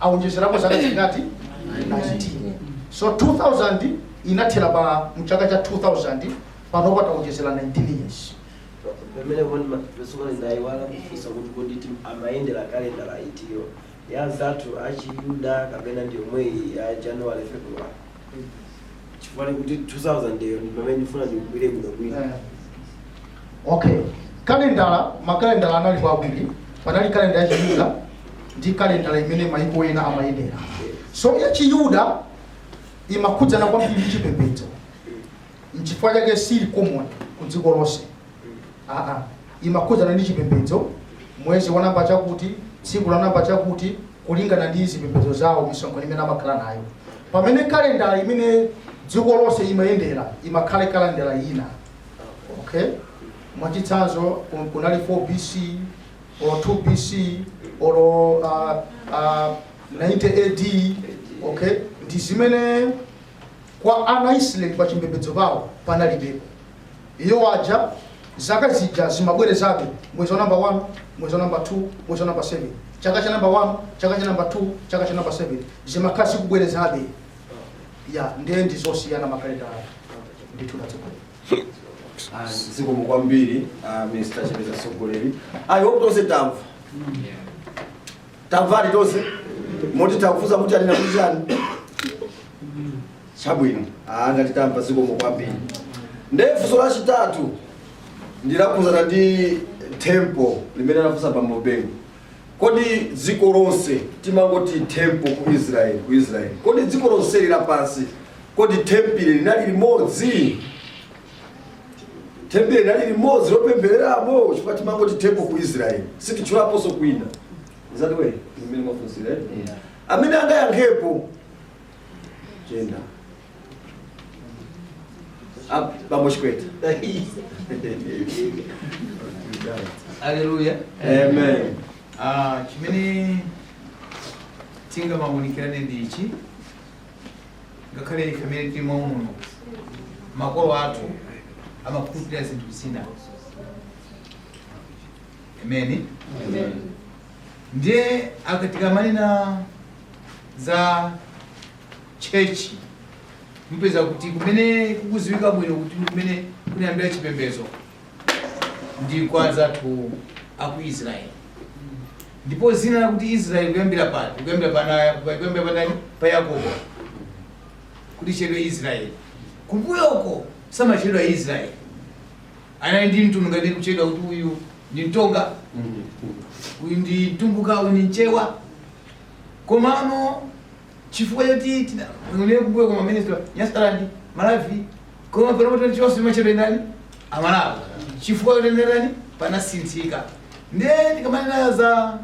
awonjezerapo zaka zingati 19 so 2000 inathera pa mchaka cha 2000 panopa tawonjezera 19 years pamenepo ndi ma Pentekosti ndayiwala kufunsa kuti kodi ti- amayendera kalendala itiyo ya anzathu achiyuda kapena ndiyomweyi ya january february chifukwa kuti 2000 yo ndi pamene ndifuna ndikumve bwinobwino Eh. okay kalendala makalendala anali awiri panali kalendala ya chiyuda ndi kalendala imene mayiko ena amayendera so ya chiyuda imakhudzana kwambiri ndi chipembedzo nchifukwa chake siili common ku dziko lonse aa imakhudzana ndi chipembedzo mwezi wa namba chakuti tsiku la namba chakuti kulingana ndi zipembedzo zawo misonkhano imene amakhala nayo pamene kalendala imene dziko lonse imayendera imakhala kalendala ina okay mwachitsanzo kun- kunali 4 bc or 2 bc or uh, uh, 90 ad okay ndi zimene kwa ana a Israeli pa chipembedzo pawo panalibepo. Iwo aja zaka zija zimabwerezabe mwezi wa namba 1 mwezi wa namba 2 mwezi wa namba 7 chaka cha namba 1 chaka cha namba 2 chaka cha namba 7 zimakhala zikubwerezabe ya ndiye ndi zosiyana makalendalawo ndithu atsogoleri Ah, zikomo kwambiri ah, mr chipeta atsogoleri ayi tonse tamva tamvadi tonse moti titakufunsani kuti anena kuti chani chabwino ngati tamva zikomo kwambiri ndiye funso lachitatu ndi lokhudzana ndi tempile limene anafunsa bambo bengo kodi dziko lonse timangoti tempile ku israeli ku israeli kodi dziko lonseli lapansi kodi tempile linali limodzi tempile linali limodzi lopemphereramo chifukwa timangoti tempile ku israeli sititchulaponso kwina si ndi mmene mwafunsira eh? amene angayankhepo chenda Up, bambo chipeta Haleluya. amen Ah, chimene tingamaunikirane ndi ichi ngakhale ife amene tili muno makolo athu amakhulupirira zinthu zina amen ndiye aka- tikamanena za chechi mupeza kuti kumene kukuziwika bwino kuti kumene kunayambira chipembedzo ndi kwa anzathu aku israeli Ndipo dzina lakuti Israele likuyambira pati? Likuyambira pa ana a- pa- likuyambira pa ndani? Pa Yakobo kuti atchedwe Israele. Kumbuyo uko samatchedwa Israele, anali ndi mtundu ngati kutchedwa kuti uyu ndi mtonga, uyu ndi mtumbuka, uyu ndi mchewa. Komano chifukwa choti tinanena kumbuyo kuja timadziwa nyasaland malawi koma panopo tonse timatchedwa ndani amalawi chifukwa choti chani panasinthika nde tikamanena za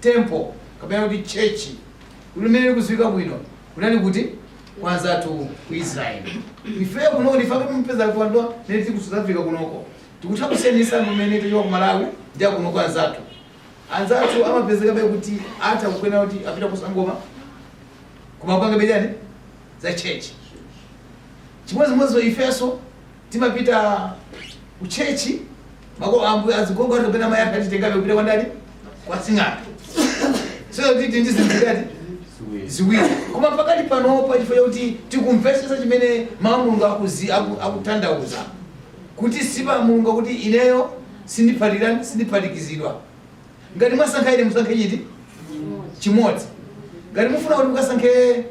temple kapena kuti church kumene ikuziwika bwino kunali kuti kwa anzathu ku israel ife kuno kuti ife kuti mpeza kuti anthu amene tili ku south africa kunoko tikutha kusiyanisa ndi mmene tichoka ku malawi ndi akuno kwa anzathu Anzathu amapezekabe kuti atha kunena kuti apita ku Sangoma koma akupangabe chani za church. Chimodzimodzinso ifenso timapita ku church makolo ambuye azigogo athu kapena mayi aka atitengabe kupita kwa ndani kwa sing'anga. So kuti tili ndi zinthu zingati ziwiri koma pakati panopa chifukwa chakuti tikumvetsetsa chimene mawu a Mulungu akuzi- aku- akutanthauza kuti paja Mulungu akuti ineyo sindiphatikirani sindiphatikizidwa. Ngati mwasankha ine musankhe chiti? Chimodzi. Ngati mufuna kuti mukasankhe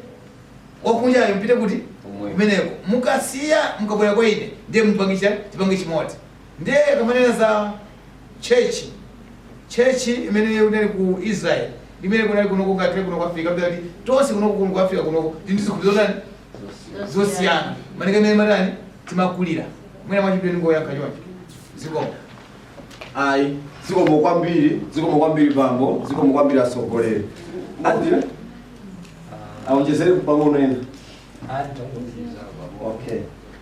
wakunjayo mpite kuti? Kumweko. Kumeneko. Mukasiya mukabwera kwa ine ndiye mupange tipange chimodzi. Ndiye tikamanena za church church imene inali ku Israel imene kunali kuno ku Africa kuno ku Africa kuti tonse kuno kuno ku Africa kuno ndi zikhulupiriro zotani zosiyana malinga ndi mmene timatani timakulira mwina mwachidule ndingoyankha choncho zikomo ayi zikomo kwambiri zikomo kwambiri bambo zikomo kwambiri atsogoleri alipo awonjezere pang'ono ena okay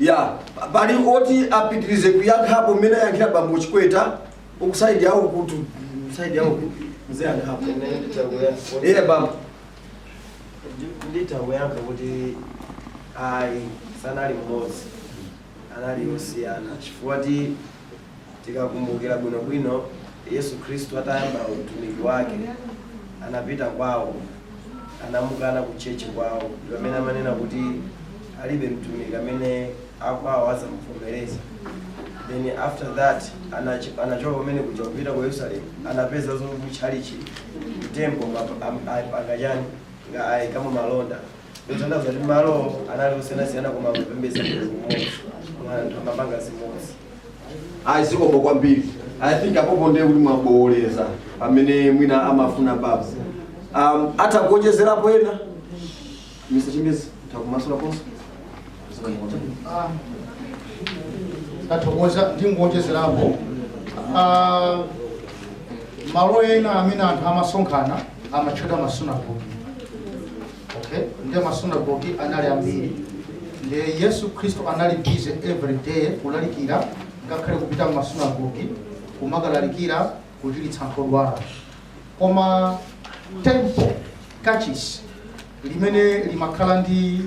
ya pali oti apitirize kuyankhapo mmene ayankhira bambo chikweta uku saidi yawo kuti saidi yawo kuti mziyankhapo iye bambo nditakuyankha kuti ayi sanali mmodzi anali osiyana chifukwa choti Tikakumbukira bwinobwino, Yesu Khristu atayamba utumiki wake, anapita kwawo, anamukana ku church kwawo, ndi pamene amanena kuti alibe mtumiki amene akwawo azamuvomereza. Then after that anach- anachoka pamene kuja kupita ku Yerusalemu, anapeza zoti ku chalichi, ku temple, ma- am- apanga chani, nga ayikamo malonda. Zotanthauza kuti malo anali osiyanasiyana koma amapembedza Mulungu mmodzi. Anthu amapanga zimodzi. ayi zikomo kwambiri i think apopo ndiye kuti mwabowoleza pamene mwina amafuna baba um, atha kuonjezerapo ena mr chimbezi takumasulaponso tathokoza ndingowonjezerapo Ah, malo ena amene anthu amasonkhana amatchedwa masunagogi okay nde masunagogi anali ambiri nde yesu khristu anali busy every day kulalikira ngakhale kupita mmasunagogi kumakalalikira kuchiritsa anthu odwala koma temple kachisi limene limakhala ndi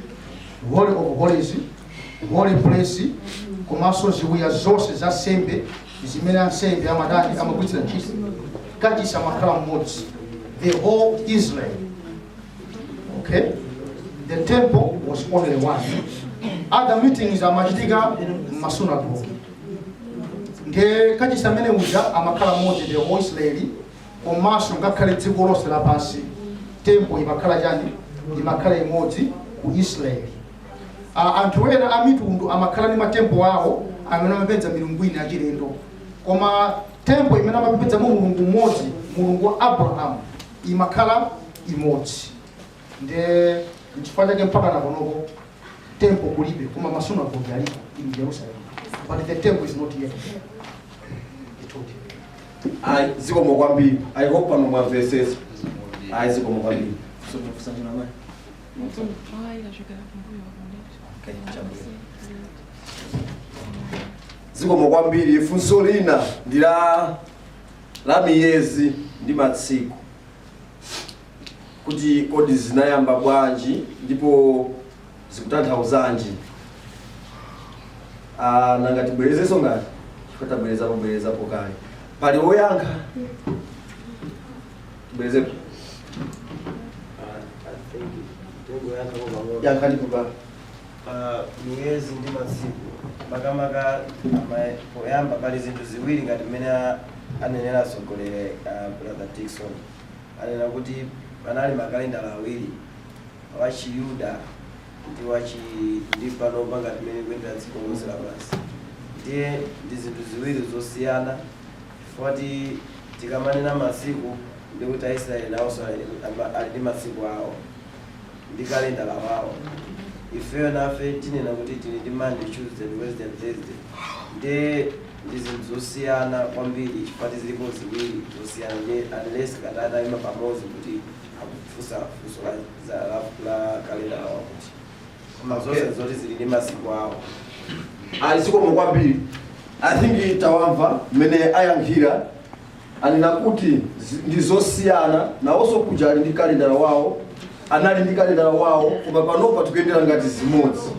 holy of holies holy place komanso ziwiya zonse za nsembe zimene ansembe amatani amagwiritsira ntchito kachisi amakhala mmodzi the whole israel okay the temple was only one other meetings amachitika mmasunagoge ndiye kachisi amene uja amakhala mmodzi the whole israeli komanso ngakhale dziko lonse lapansi tempo imakhala chani imakhala imodzi ku israeli A- anthu ena a mitundu amakhala ndi matempo awo amene amapembedza milungu ina yachilendo koma tempo imene amapembedzamo mulungu mmodzi mulungu wa abrahamu imakhala imodzi nde nchifukwa chake mpaka nakonoko tempo kulibe koma masunagoge alipo in jerusalem but the temple is not yet built. Ayi, zikomo kwambiri. I hope pano mwamvetsetsa. Ayi, zikomo kwambiri. Zikomo kwambiri. Funso lina ndi la miyezi ndi matsiku. kuti kodi zinayamba bwanji ndipo zikutanthauzanji Ah, nanga tibwerezenso ngati chifukwa tabwerezapo bwerezapo kale pali woyankha tibwerezepo yankhani kupa pa miyezi ndi masiku makamaka ama- poyamba pali zinthu ziwiri ngati mmene a- anenera atsogoleri a brother dikson anena kuti panali makalendala awiri, Wachiyuda ndi wachi, ndi panopa ngati mmene likuyendera dziko lonse lapansi. Ndiye ndi zinthu ziwiri zosiyana chifukwa kuti tikamanena masiku ndiye kuti Aisraele nawonso ali, ama, ali ndi masiku awo ndi kalendala wawo. Ifeyo nafe tinena kuti tili ndi Monday, Tuesday and Wednesday and Thursday. Ndiye. ndi zinthu zosiyana kwambiri chifukwa ti zilipo ziwiri zosiyana ndi unless ngati anaima pamodzi kuti akufunsa funso la, za- la, la kalendala wawo kuti koma Okay. zonse zoti zili ndi masiku awo ali zikomo kwambiri i think tawamva mmene ayankhira anena kuti zi- ndi zosiyana nawonso kuja ali ndi kalendala wawo anali ndi kalendala wawo koma panopa tikuyendera ngati zimodzi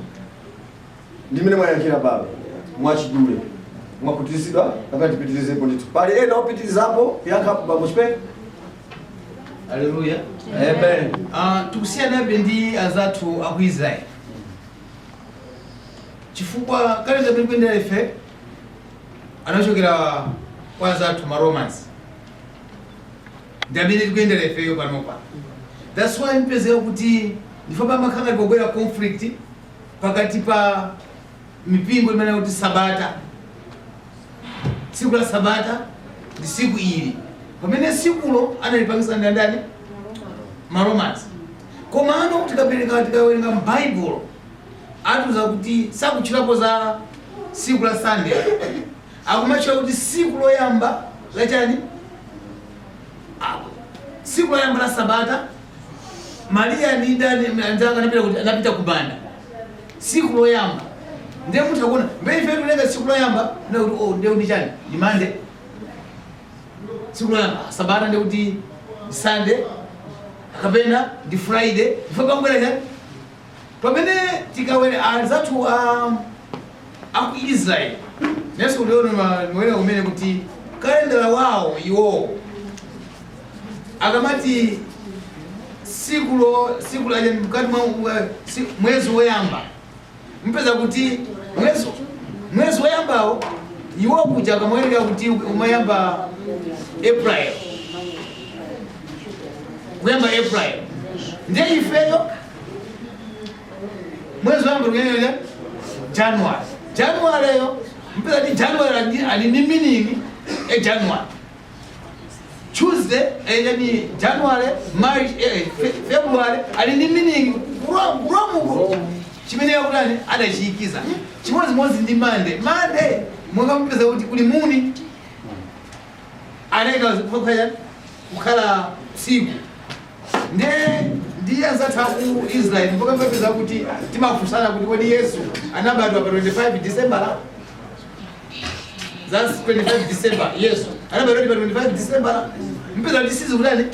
ndi mmene mwayankhira pano mwachidule mwakhutitsidwa kapena tipitirizepo ndithu pali ena opitirizapo kuyankhapo bambo chipeni Haleluya. amen Ah, tikusiyanabe ndi anzathu aku Israel. Chifukwa kalendala tikuyendera ife anachokera kwa anzathu ma Romans. Ndi amene tikuyendera ifeyo panopa. That's why mpezeka kuti ndi ife pamakhala ngati pakubwera conflict pakati pa mipingo imanena kuti sabata tsiku la sabata ndi siku ili pamene sikulo analipangisa ndi andani maromans komano tikapereka tikawerenga mbaibulo akutiuza kuti sakutchulapo za siku la sunday akumatchula kuti siku loyamba lachani siku loyamba la sabata Maria ndi ndani anzanga anapita kuti anapita kumanda tsiku loyamba ndiye mutha kuona bwe ife tiwerenga tsiku loyamba na kuti oh ndiye kuti chani ndi mande tsiku loyamba sabata ndiye kuti sande kapena ndi friday ife pabwera chani pamene tikaona anzathu a aku Israel nesu uliona mawerengedwe kuti kalendala wawo iwowo akamati siku lo siku la chani mkati mwa mwa- si- mwezi woyamba mpeza kuti mwezi mwezi woyambawo iwo kuja amawerenga kuti umayamba April kuyamba April ndiye ifeyo mwezi woyamba nde Ja- january january yo mpeza kuti january ali- ali ni meaning e january tuesday eh, yani january march eh, fe- february ali ni meaning Rom- ku Romuko chimene inawatani adachiyikiza chimodzimodzi ndi monday monday monga mupeza kuti kuli moon anaika kukhala kukhala siku Nde ndi anzathu aku Israel mpaka mpeza kuti timafunsana kuti kodi Yesu anabadwa pa 25 December? That's 25 December. Yesu anabadwa pa 25 December. Mpeza kuti sizi kutani?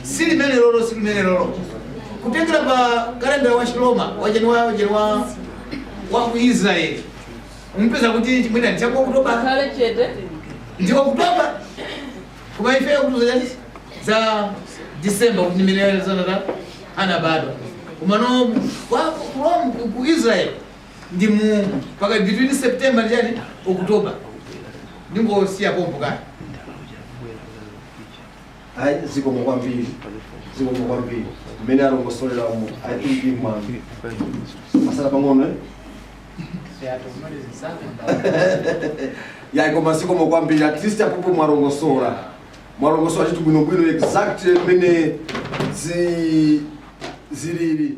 Si limene lolo, si limene lolo. Kutengera pa kalenda wa Chiroma wa January wa ku Israel. Mpeza kuti chimene ndi cha October. Kale chete. Ndi October. Koma ife akutiuza za December kuti ndi mmene anabadwa. Komano ku Israel ndi mu paka between September ndi chani October. Ndingosiya pompo kaya. ayi zikomo kwambiri zikomo kwambiri mmene alongosolera umu i think mwangotsala pang'ono eh? ya koma zikomo kwambiri at least apapa mwalongosola mwalongosola chinthu bwinobwino exact mmene zi- zilili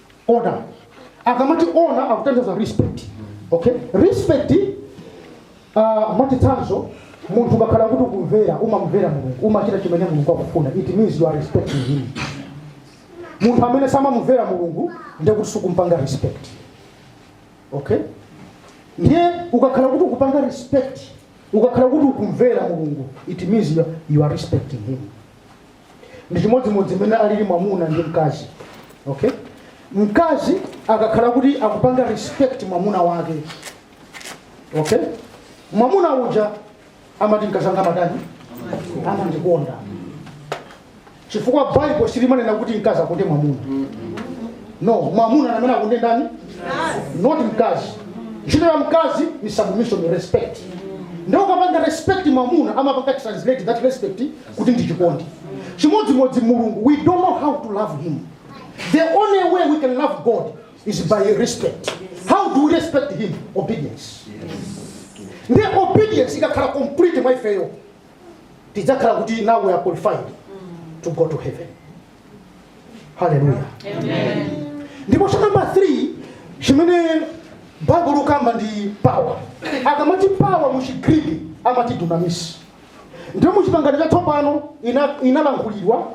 honor akamati honor akutanthauza respect okay respect uh, mwachitsanzo munthu ukakhala kuti ukumvera umamvera mulungu umachita chimene mulungu akufuna it means you are respecting him munthu amene samamumvera mulungu ndekuti sakumpanga respect okay ndiye ukakhala kuti ukupanga respect ukakhala kuti ukumvera mulungu it means you are, you are respecting him ndi chimodzimodzi mmene alili mwamuna ndi mkazi okay mkazi akakhala kuti akupanga respect mwamuna wake okay mwamuna uja amati mkazi wanga amatani amandikonda chifukwa bible silimanena kuti mkazi akonde mwamuna no mwamuna ndi amene akonde ndani not mkazi ntchito ya mkazi ndi submission respect ndiye ukapanga respect mwamuna amapanga translate that respect kuti ndi chikondi chimodzimodzi mulungu we don't know how to love him the only way we can love god is by respect how do we respect him obedience nde obedience ikakhala complete mwa ifeyo tidzakhala kuti now we are qualified to go to heaven haleluya ndipo chanamba 3 chimene baibulo likamba ndi power akamati power mu chigriki amati dunamis Ndipo mu chipangano chatsopano inalankhulidwa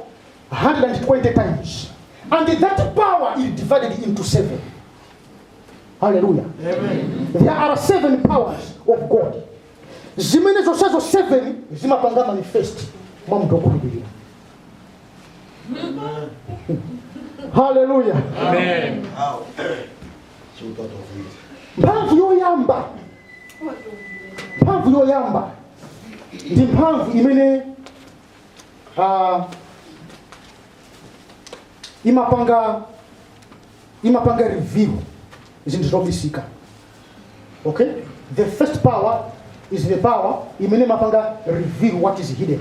120 times and that power is divided into seven haleluya there are seven powers of god zimene zonsezo seven zimapanga manifest mwa munthu okhulupirira haleluya Amen. mphamvu yoyamba mphamvu yoyamba ndi mphamvu imene ah, imapanga imapanga reveal zinthu zobisika okay the first power is the power imene imapanga reveal what is hidden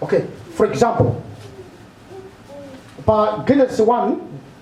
okay for example pa genesis 1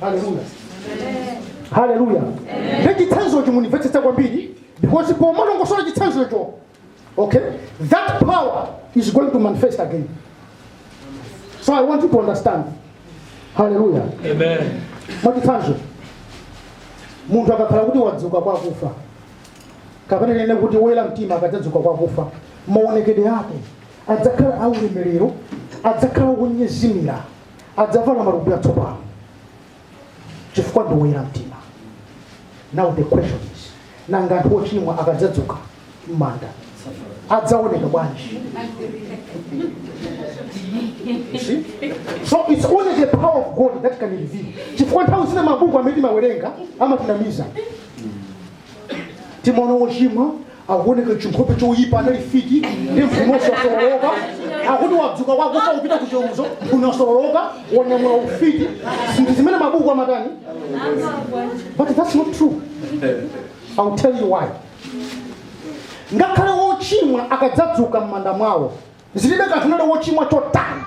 haleluya haleluya ndi chitsanzocho mundimvetsetse kwambiri because pomalongosola chitsanzocho okay that power is going to manifest again so i want you to understand haleluya Amen. mwachitsanzo munthu akakhala kuti wadzuka kwa akufa kapena tinene kuti woyera mtima akadzadzuka kwa akufa maonekedwe ake adzakhala aulemerero adzakhala wonyezimira adzavala matupi atsopano chifukwa ndi woyera mtima now the question is nanga anthu ochimwa akadzadzuka m'manda adzaoneka bwanji You see? so it's only the power of god that can reveal chifukwa nthawi zina mabuku amene timawerenga amatinamiza timaona wochimwa akuoneka chinkhope choyipa anali fiti ndi mphuno yosololoka akuti wadzuka kwakufa kupita ku chiweruzo mphuno yosololoka wanyamula ufiti zinthu zimene mabuku amatani but that's not true i'll tell you why ngakhale wochimwa akadzadzuka m'manda mwawo zilibe kanthu anali wochimwa chotani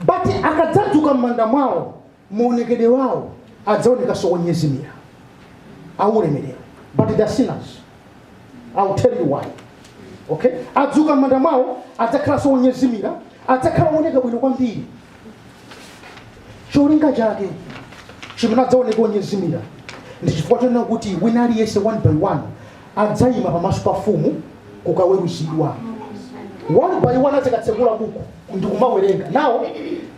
but akadzadzuka m'manda mwawo maonekedwe awo adzaonekanso onyezimira aulemerero but the sinners I'll tell you why okay adzuka m'manda mwawo adzakhalanso onyezimira adzakhala ooneka bwino kwambiri cholinga chake chimene adzaoneka onyezimira ndi chifukwa chonena kuti wina aliyense one by one adzayima pamaso pa mfumu kukaweruzidwa one by one azikatsekula buku ndi kumawerenga nawo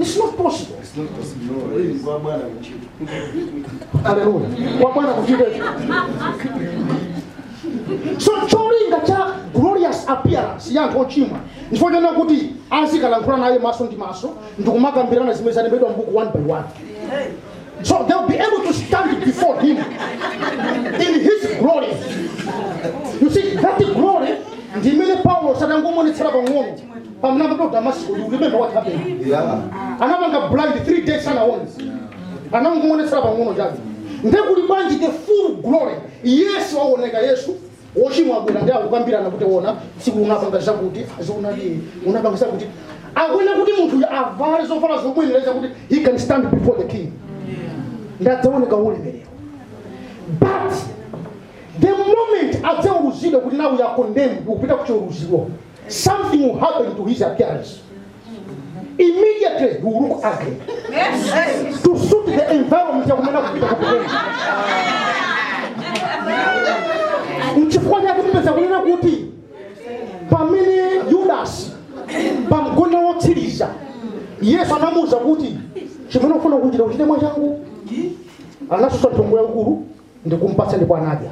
It's not possible. It's not possible. Hallelujah, kwa Bwana kuchita. Hallelujah. Kwa Bwana kuchita. So cholinga cha glorious appearance ya anthu ochimwa ndi chifukwa chonena kuti azikalankhula naye maso ndi maso ndikumakambirana zimene zalembedwa mbuku one by one so they'll be able to stand before him in his glory you see that glory ndi imene paulo adangomuonetsera pang'ono pamene amapita ku damasiko you remember what happened anampanga blind 3 days sanawone anangomuonetsera pang'ono chabe nde kuli bwanji the full glory yesu aoneka yesu wochimwa abwera ndi akukambirana kuti wona tsiku unapanga zakuti azionadi unapanga zakuti akuyenera kuti munthu uyu avale zovala zomuyenereza kuti he can stand before the king nde adzaoneka waulemerero but the moment adzaweruzidwa kuti now you are condemned kupita kuchiweruzo something will happen to his appearance. Immediately he will look ugly. To suit the environment ya kumene akupita kupiteni. Nchifukwa chake mupeza kunena kuti pamene Judas pamgona wotsiriza Yesu anamuwuza kuti chimene ufuna kuchita uchite mwachangu anasunsa nthongo yaikulu ndikumpatsa ndipo anadya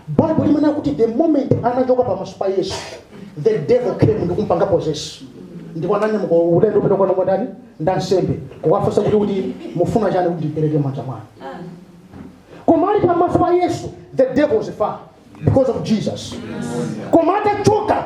bible imanena kuti the moment anachoka pamaso pa yesu the devil came ndikumpanga possess ndipo ananyamuka ulendo wopita kwana kwa ndani ndansembe kukawafunsa kuti kuti mufuna chani kuti ndimpereke m'manja mwanu koma ali pamaso pa yesu the devil is far because of jesus koma atachoka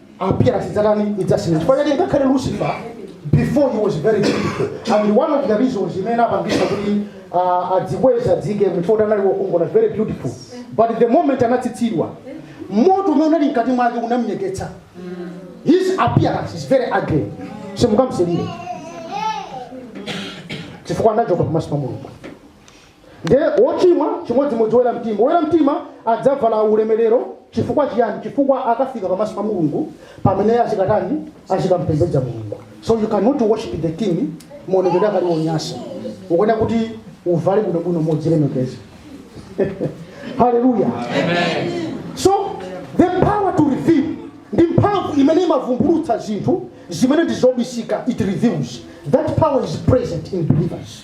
appearance idzatani idzasintha chifukwa chake ngakhale lucifer before he was very beautiful and one of the reasons imene inapangitsa kuti uh, adzikweze dzike mfoti anali wokongola very beautiful but the moment anatsitsidwa moto umene unali mkati mwake unamnyeketsa his appearance is very ugly simungamsilire chifukwa anachoka pamaso pa mulungu Ndiye wochimwa, chimodzimodzi woyera mtima. Woyera mtima adzavala ulemerero. Chifukwa chiyani? Chifukwa akafika pamaso pa Mulungu pamene azikatani? Azikampembedza Mulungu. So you cannot worship the king maonekedwe ako ali onyasa. Ukuyenera kuti uvale bwinobwino modzilemekeza. Hallelujah. So the power to reveal ndi mphamvu imene imavumbulutsa zinthu zimene ndi zobisika it reveals that power is present in believers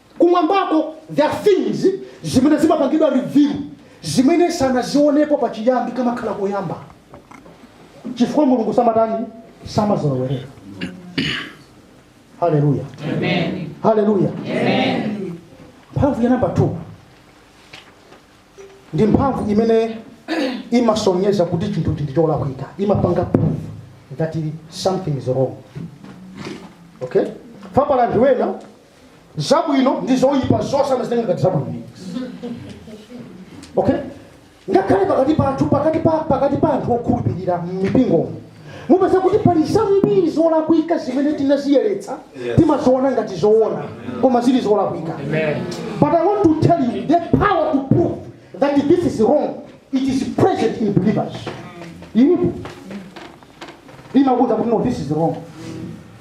Kumwambako there are things zimene zimapangidwa reveal zimene sanazionepo pachiyambi kamakhala koyamba chifukwa mulungu samatani samazolowereka haleluya haleluya mphamvu ya namba 2 ndi mphamvu imene imasonyeza kuti chinthu chili cholakwika imapanga proof that something is wrong okay fukwa pali anthu ena zabwino ndi zoyipa zonse amazitenga ngati zabwino okay ngakhale pakati pathu pakati pa anthu okhulupirira m'mipingomo mupeza kuti pali zambiri zolakwika zimene tinaziyeretsa timaziona ngati zoona koma zili zolakwika but i want to tell you the power to prove that this is wrong it is present in believers ilipo imakuuza kuti no this is wrong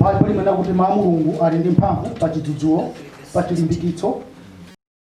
Baibulo imanena kuti Mawu a Mulungu ali ndi mphamvu pa chidzudzulo, pa chilimbikitso.